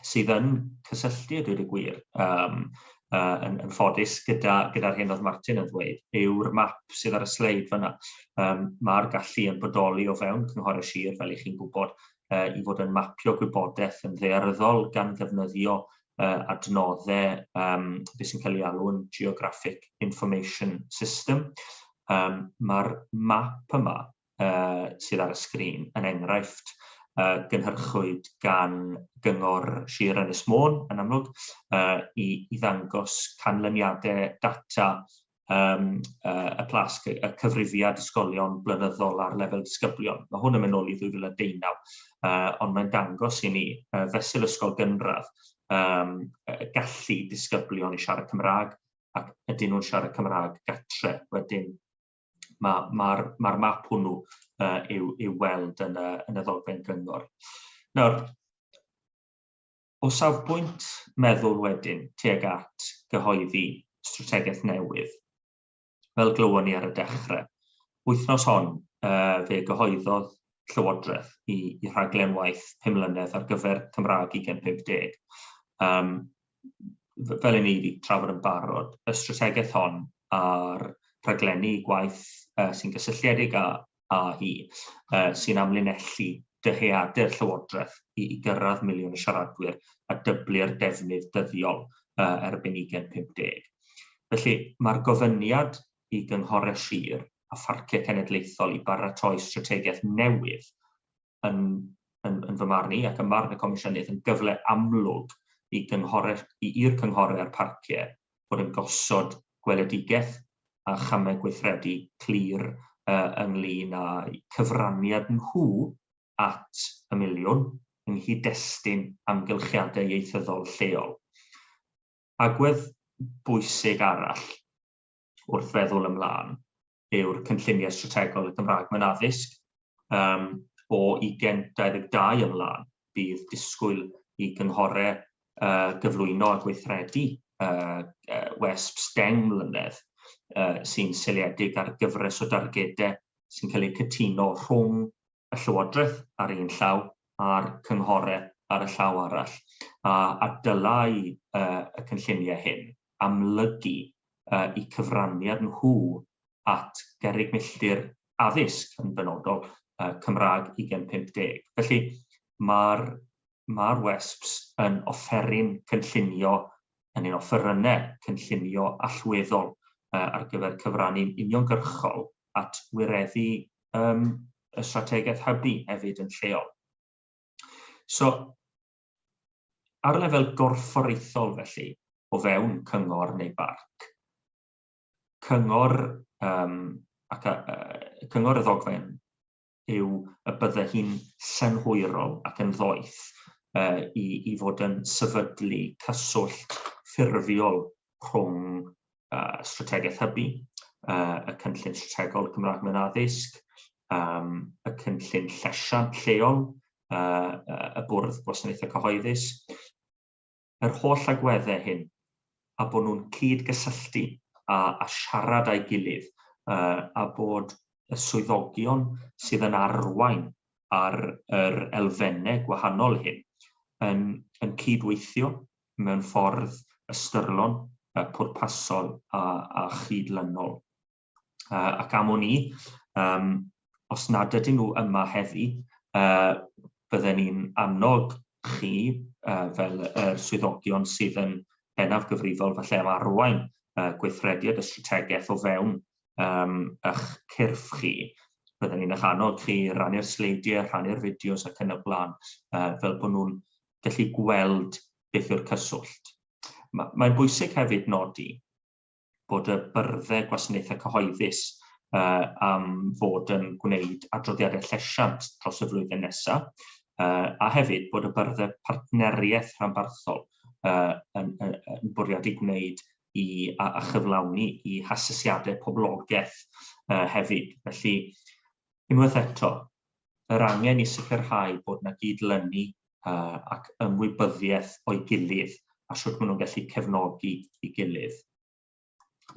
sydd yn cysylltu, dweud y gwir, um, uh, yn, yn ffodus gyda'r gyda, hyn oedd Martin yn ddweud, yw'r map sydd ar y sleid fyna. Um, Mae'r gallu yn bodoli o fewn cynghorau sir, fel i chi'n gwybod, uh, i fod yn mapio gwybodaeth yn ddearyddol gan ddefnyddio uh, adnoddau um, beth sy'n cael ei alw'n Geographic Information System. Um, Mae'r map yma uh, sydd ar y sgrin yn enghraifft uh, gynhyrchwyd gan Gyngor Sir Ynys Môn yn amlwg uh, i, i ddangos canlyniadau data um, uh, y plasg, y cyfrifiad ysgolion blynyddol ar lefel disgyblion. Mae hwn yn mynd nôl i 2019, uh, ond mae'n dangos i ni uh, fesul ysgol gynradd um, gallu disgyblion i siarad Cymraeg ac ydyn nhw'n siarad Cymraeg gatre. Wedyn mae'r ma, ma, ma map hwnnw uh, i'w, yw weld yn y, yn y ddogfen gyngor. Nawr, O safbwynt meddwl wedyn, tuag at gyhoeddi strategaeth newydd, fel glywon ni ar y dechrau, wythnos hon fe gyhoeddodd Llywodraeth i, i rhaglen waith pum mlynedd ar gyfer Cymraeg 2050. Um, fel i ni wedi trafod yn barod, y strategaeth hon a'r rhaglenni gwaith uh, sy'n gysylltiedig â, AE, sy'n amlinellu dyheadur Llywodraeth i gyrraedd miliwn o siaradwyr a dyblu'r defnydd dyddiol er bu'n 2050. Felly, mae'r gofyniad i gynghorau sir a pharciau cenedlaethol i baratoi strategaeth newydd yn, yn, yn fy marn i, ac ym marn y Comisiynydd, yn gyfle amlwg i gynghorau'r, i, i'r cynghorau a'r parciau fod yn gosod gweledigaeth a chamau gweithredu clir uh, ynglyn â'u cyfraniad nhw at y miliwn yng nghyd-destun amgylchiadau ieithyddol lleol. Agwedd bwysig arall wrth feddwl ymlaen yw'r cynlluniau strategol y Gymraeg mewn addysg. Um, o 2022 ymlaen, bydd disgwyl i gynghorau uh, gyflwyno a gweithredu uh, uh, WESPs deng mlynedd uh, sy'n seliedig ar gyfres o dargedau sy'n cael eu cytuno rhwng y Llywodraeth ar un llaw a'r cynghorau ar y llaw arall, a, a dylai uh, y cynlluniau hyn amlygu uh, i cyfraniad nhw at gerrig milltir addysg yn benodol uh, Cymraeg 2050. Felly mae'r mae'r WESPs yn offeryn cynllunio, yn ein offerynnau cynllunio allweddol ar gyfer cyfrannu'n uniongyrchol at wireddu y strategaeth hybu hefyd yn lleol. So, ar lefel gorfforaethol felly, o fewn cyngor neu barc, cyngor, um, ac, uh, cyngor y ddogfen yw y bydde hi'n synhwyrol ac yn ddoeth uh, i, i fod yn sefydlu cyswllt ffurfiol rhwng uh, strategaeth hybu, uh, y cynllun strategol Cymraeg mewn addysg, um, y cynllun llesiant lleol, uh, y bwrdd gwasanaethau cyhoeddus, yr holl agweddau hyn a bod nhw'n cyd-gysylltu a a siarad â'i gilydd a bod y swyddogion sydd yn arwain ar yr elfennau gwahanol hyn yn yn cyd-weithio mewn ffordd ystyrlon, pwrpasol a a chyd-lynol. uh, ac am o'n i, um, os nad ydyn nhw yma heddi, uh, bydden ni'n annog chi uh, fel yr er swyddogion sydd yn bennaf gyfrifol falle am arwain uh, gweithrediad y strategaeth o fewn um, eich cyrff chi. Bydden ni'n eich annog chi rannu'r sleidiau, rhannu'r fideos ac yn y blaen, uh, fel bod nhw'n gallu gweld beth yw'r cyswllt. Mae'n bwysig hefyd nodi bod y byrddau gwasanaethau cyhoeddus uh, am fod yn gwneud adroddiadau llesiant dros y flwyddyn nesaf, uh, a hefyd bod y byrddau partneriaeth rhanbarthol uh, yn, yn, yn bwriad i gwneud i, a, a chyflawni i hasesiadau poblogaeth uh, hefyd. Felly, unwaith eto, yr angen i sicrhau bod yna gyd-lynu ac ymwybyddiaeth o'i gilydd a sut maen nhw'n gallu cefnogi i gilydd.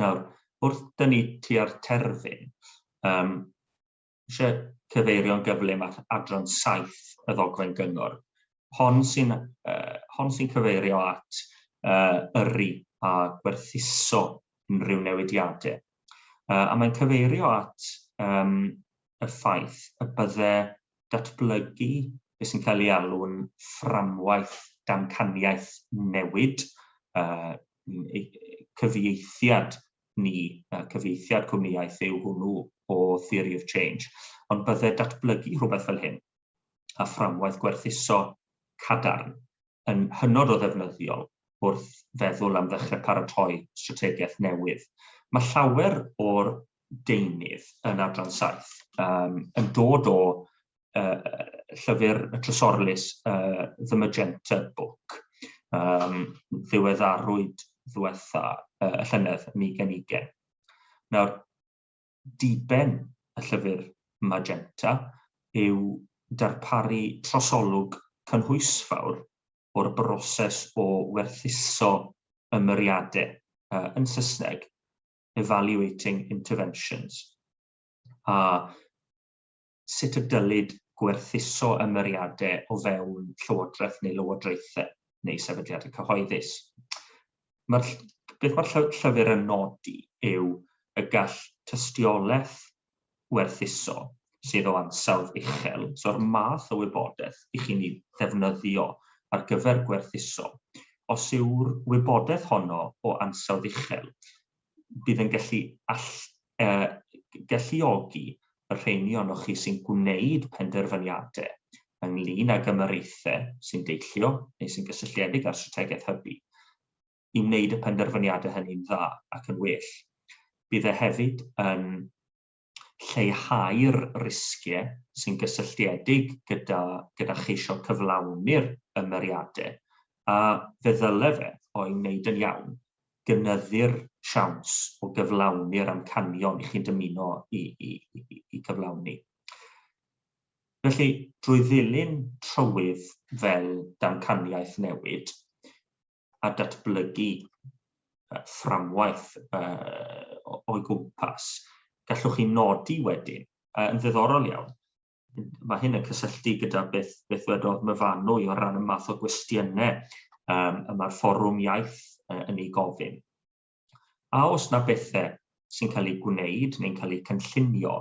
Nawr, wrth dyn ni tua'r terfyn, um, eisiau cyfeirio'n gyflym at adran 7 y ddogfen gyngor. Hon sy'n uh, hon sy'n cyfeirio at uh, yrru a gwerthuso unrhyw newidiadau Uh, a mae'n cyfeirio at um, y ffaith y bydde datblygu beth sy'n cael ei alw'n fframwaith damcaniaeth newid, uh, cyfieithiad ni, uh, cyfieithiad cwmniaeth yw hwnnw o Theory of Change, ond bydde datblygu rhywbeth fel hyn a fframwaith gwerthuso cadarn yn hynod o ddefnyddiol wrth feddwl am ddechrau paratoi strategaeth newydd. Mae llawer o'r deunydd yn adran saith um, yn dod o uh, llyfr y Trysorlys uh, The Magenta Book, um, ddiweddarwyd ddiwetha uh, y llynedd yn 2020. Nawr, diben y Llyfr Magenta yw darparu trosolwg cynhwysfawr o'r broses o werthuso ymyriadau, yn Saesneg, evaluating interventions, a sut y dylid gwerthuso ymyriadau o fewn llywodraeth neu lywodraethau neu sefydliadau cyhoeddus. Mae'r, beth mae'r llyfr yn nodi yw y gall tystiolaeth werthuso sydd o ansawdd uchel, so'r math o wybodaeth i chi'n ei ddefnyddio ar gyfer gwerthuso, os yw'r wybodaeth honno o ansawdd uchel, bydd yn gallu all, e, galluogi y rheini ohonoch chi sy'n gwneud penderfyniadau ynglyn ag ymyraethau sy'n deillio neu sy'n gysylltiedig â'r strategaeth hybu i wneud y penderfyniadau hynny'n dda ac yn well. Bydd e hefyd yn lleihau'r risgiau sy'n gysylltiedig gyda gyda cheisio cyflawni'r ymyriadau, a fe ddylai fe, o'i wneud yn iawn, gynyddu'r siawns o gyflawni'r amcanion i chi'n dymuno eu cyflawni. Felly, drwy ddilyn trywydd fel damcaniaeth newid, a datblygu fframwaith o'i gwmpas. Gallwch chi nodi wedyn, yn ddiddorol iawn, mae hyn yn cysylltu gyda beth, beth wedodd myfanwy o ran y math o gwestiynau um, y mae'r fforwm iaith yn ei gofyn. A oes na bethau sy'n cael eu gwneud neu'n cael eu cynllunio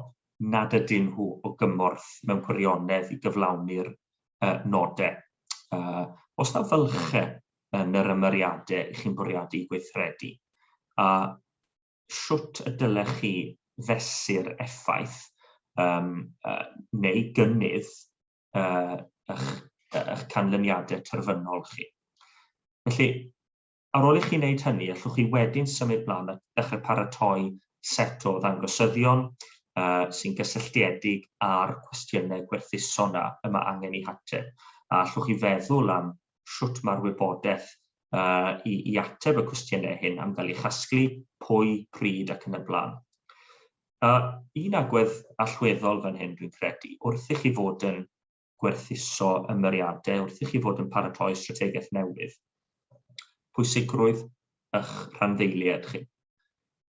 nad ydyn nhw o gymorth mewn gwirionedd i gyflawni'r uh, nodau? Uh, os na fylchau yn yr ymyriadau i chi'n bwriadu gweithredu, a siwt y dylech chi fesur effaith um, uh, neu gynnydd uh, eich, eich canlyniadau terfynol chi. Felly, Ar ôl i chi wneud hynny, allwch chi wedyn symud mlaen a dechrau paratoi set o ddangosyddion uh, sy'n gysylltiedig â'r cwestiynau gwerthuso yna y mae angen i hateb. A allwch chi feddwl am sut mae'r wybodaeth uh, i, i ateb y cwestiynau hyn am gael ei chasglu, pwy, pryd ac yn y blaen. Uh, un agwedd allweddol fan hyn dwi'n credu, wrth i chi fod yn gwerthuso ymyriadau wrth i chi fod yn paratoi strategaeth newydd. Pwysigrwydd eich rhanddeiliaid chi.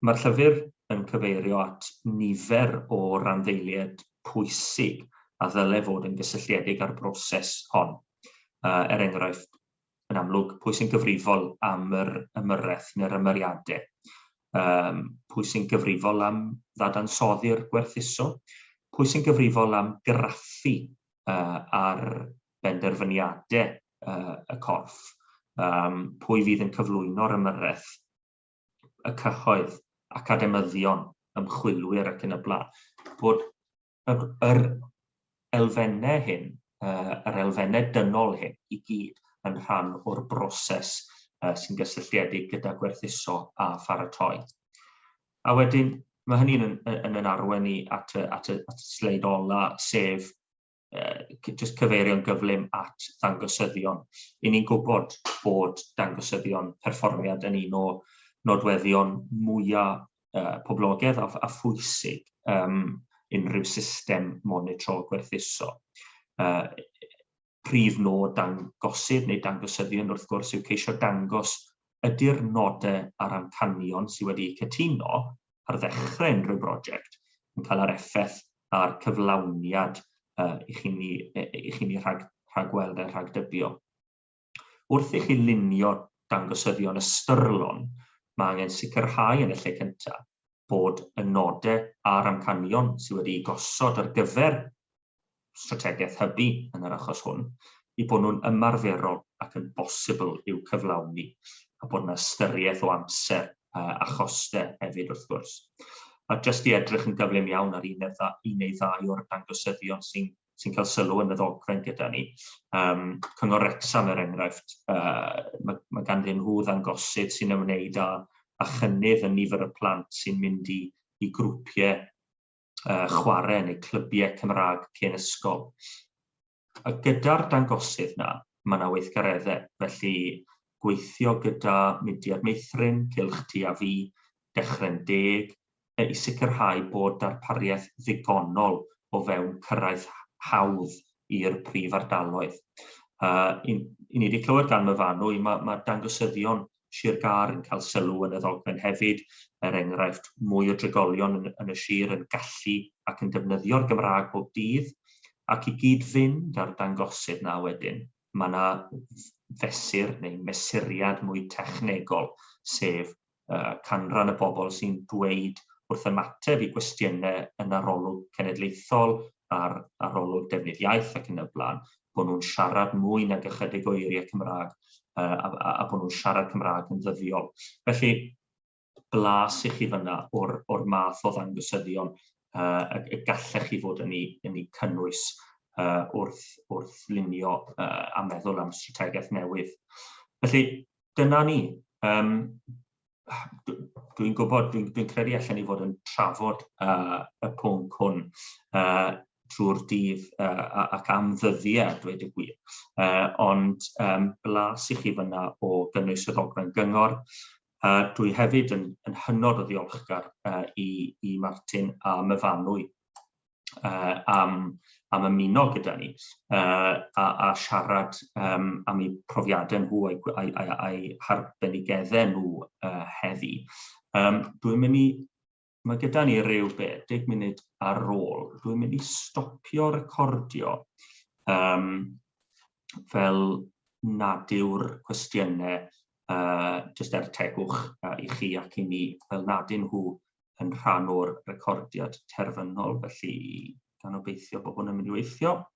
Mae'r llyfr yn cyfeirio at nifer o randdeiliaid pwysig a ddylai fod yn gysylltiedig â'r broses hon, er enghraifft yn amlwg, pwy sy'n gyfrifol am yr ymyrraeth neu'r ymyriadau, um, pwy sy'n gyfrifol am ddadansoddi'r gwerthuso, pwy sy'n gyfrifol am graffu uh, ar benderfyniadau uh, y corff, um, pwy fydd yn cyflwyno'r ymyrraeth, y cyhoedd, academyddion, ymchwilwyr ac yn y blaen, bod yr, yr elfennau hyn, uh, yr elfennau dynol hyn i gyd yn rhan o'r broses uh, sy'n gysylltiedig gyda gwerthuso a pharatoi. A wedyn, mae hynny'n yn, yn, yn arwen ni at y, at y, at y sleid ola, sef uh, just cyfeirio'n gyflym at ddangosyddion. I ni'n gwybod bod dangosyddion perfformiad yn un o nodweddion mwyaf uh, poblogaidd a, a phwysig um, unrhyw system monitro gwerthuso. Uh, prif nod dangosydd neu dangosyddion wrth gwrs yw ceisio dangos ydy'r nodau a'r amcanion sydd wedi cytuno ar ddechrau unrhyw brosiect yn cael yr effaith a'r cyflawniad uh, i chi'n ni, i chi ni rhag, rhagweld a rhagdybio. Wrth i chi lunio dangosyddion ystyrlon, mae angen sicrhau yn y lle cyntaf bod y nodau a'r amcanion sydd wedi'u gosod ar gyfer strategaeth hybu yn yr achos hwn, eu bod nhw'n ymarferol ac yn bosibl i'w cyflawni, a bod yna ystyriaeth o amser a chostau hefyd wrth gwrs. A jyst i edrych yn gyflym iawn ar un neu ddau o'r dangosyddion sy'n sy'n cael sylw yn y ddogfen gyda ni. Um, Cyngor Rexham er enghraifft, uh, mae, mae ganddyn nhw ddangosydd sy'n ymwneud â, â chynnydd yn nifer y plant sy'n mynd i, i grwpiau uh, chwarae neu clybiau Cymraeg cyn ysgol. A gyda'r dangosydd na, mae yna weithgareddau, felly gweithio gyda Mudiad Meithrin, Cylch Ti a Fi, Dechrau'n Deg, e i sicrhau bod darpariaeth ddigonol o fewn cyrraedd hawdd i'r prif ardaloedd. Uh, I ni wedi clywed gan myfanwy, mae, mae dangosyddion Sir Gar yn cael sylw yn y ddogfen hefyd, er enghraifft mwy o drigolion yn, yn y sir yn gallu ac yn defnyddio'r Gymraeg bob dydd, ac i gyd-fynd â'r dangosydd na wedyn, mae yna fesur neu mesuriad mwy technegol, sef canran y bobl sy'n dweud wrth ymateb i gwestiynau yn arolwg cenedlaethol a'r arolwg defnydd iaith ac yn y blaen, bod nhw'n siarad mwy nag ychydig o eiriau Cymraeg a, a, a bod nhw'n siarad Cymraeg yn ddyddiol. Felly, blas i chi fyna o'r, or math o ddangosyddion uh, y gallech chi fod yn ei, yn ei cynnwys uh, wrth, wrth lunio uh, a meddwl am strategaeth newydd. Felly, dyna ni. Um, dwi'n gwybod, dwi'n dwi credu allan ni fod yn trafod uh, y pwnc hwn uh, trwy'r dydd uh, ac am ddyddiau, dweud y gwir. Uh, ond um, blas i chi fyna o gynnwys y ddogfen gyngor. Uh, dwi hefyd yn, yn hynod o ddiolchgar uh, i, i Martin a Myfanwy uh, am, am ymuno gyda ni uh, a, a siarad um, am eu profiadau nhw a'i, a'i, a'i, a'i harbenigeddau nhw uh, heddi. Um, dwi'n mynd i Mae gyda ni rhyw be, 10 munud ar ôl. Dwi'n mynd i stopio recordio um, fel nad yw'r cwestiynau uh, jyst er tegwch uh, i chi ac i ni, fel nad yn nhw yn rhan o'r recordiad terfynol, felly gan obeithio bod hwn yn mynd i weithio.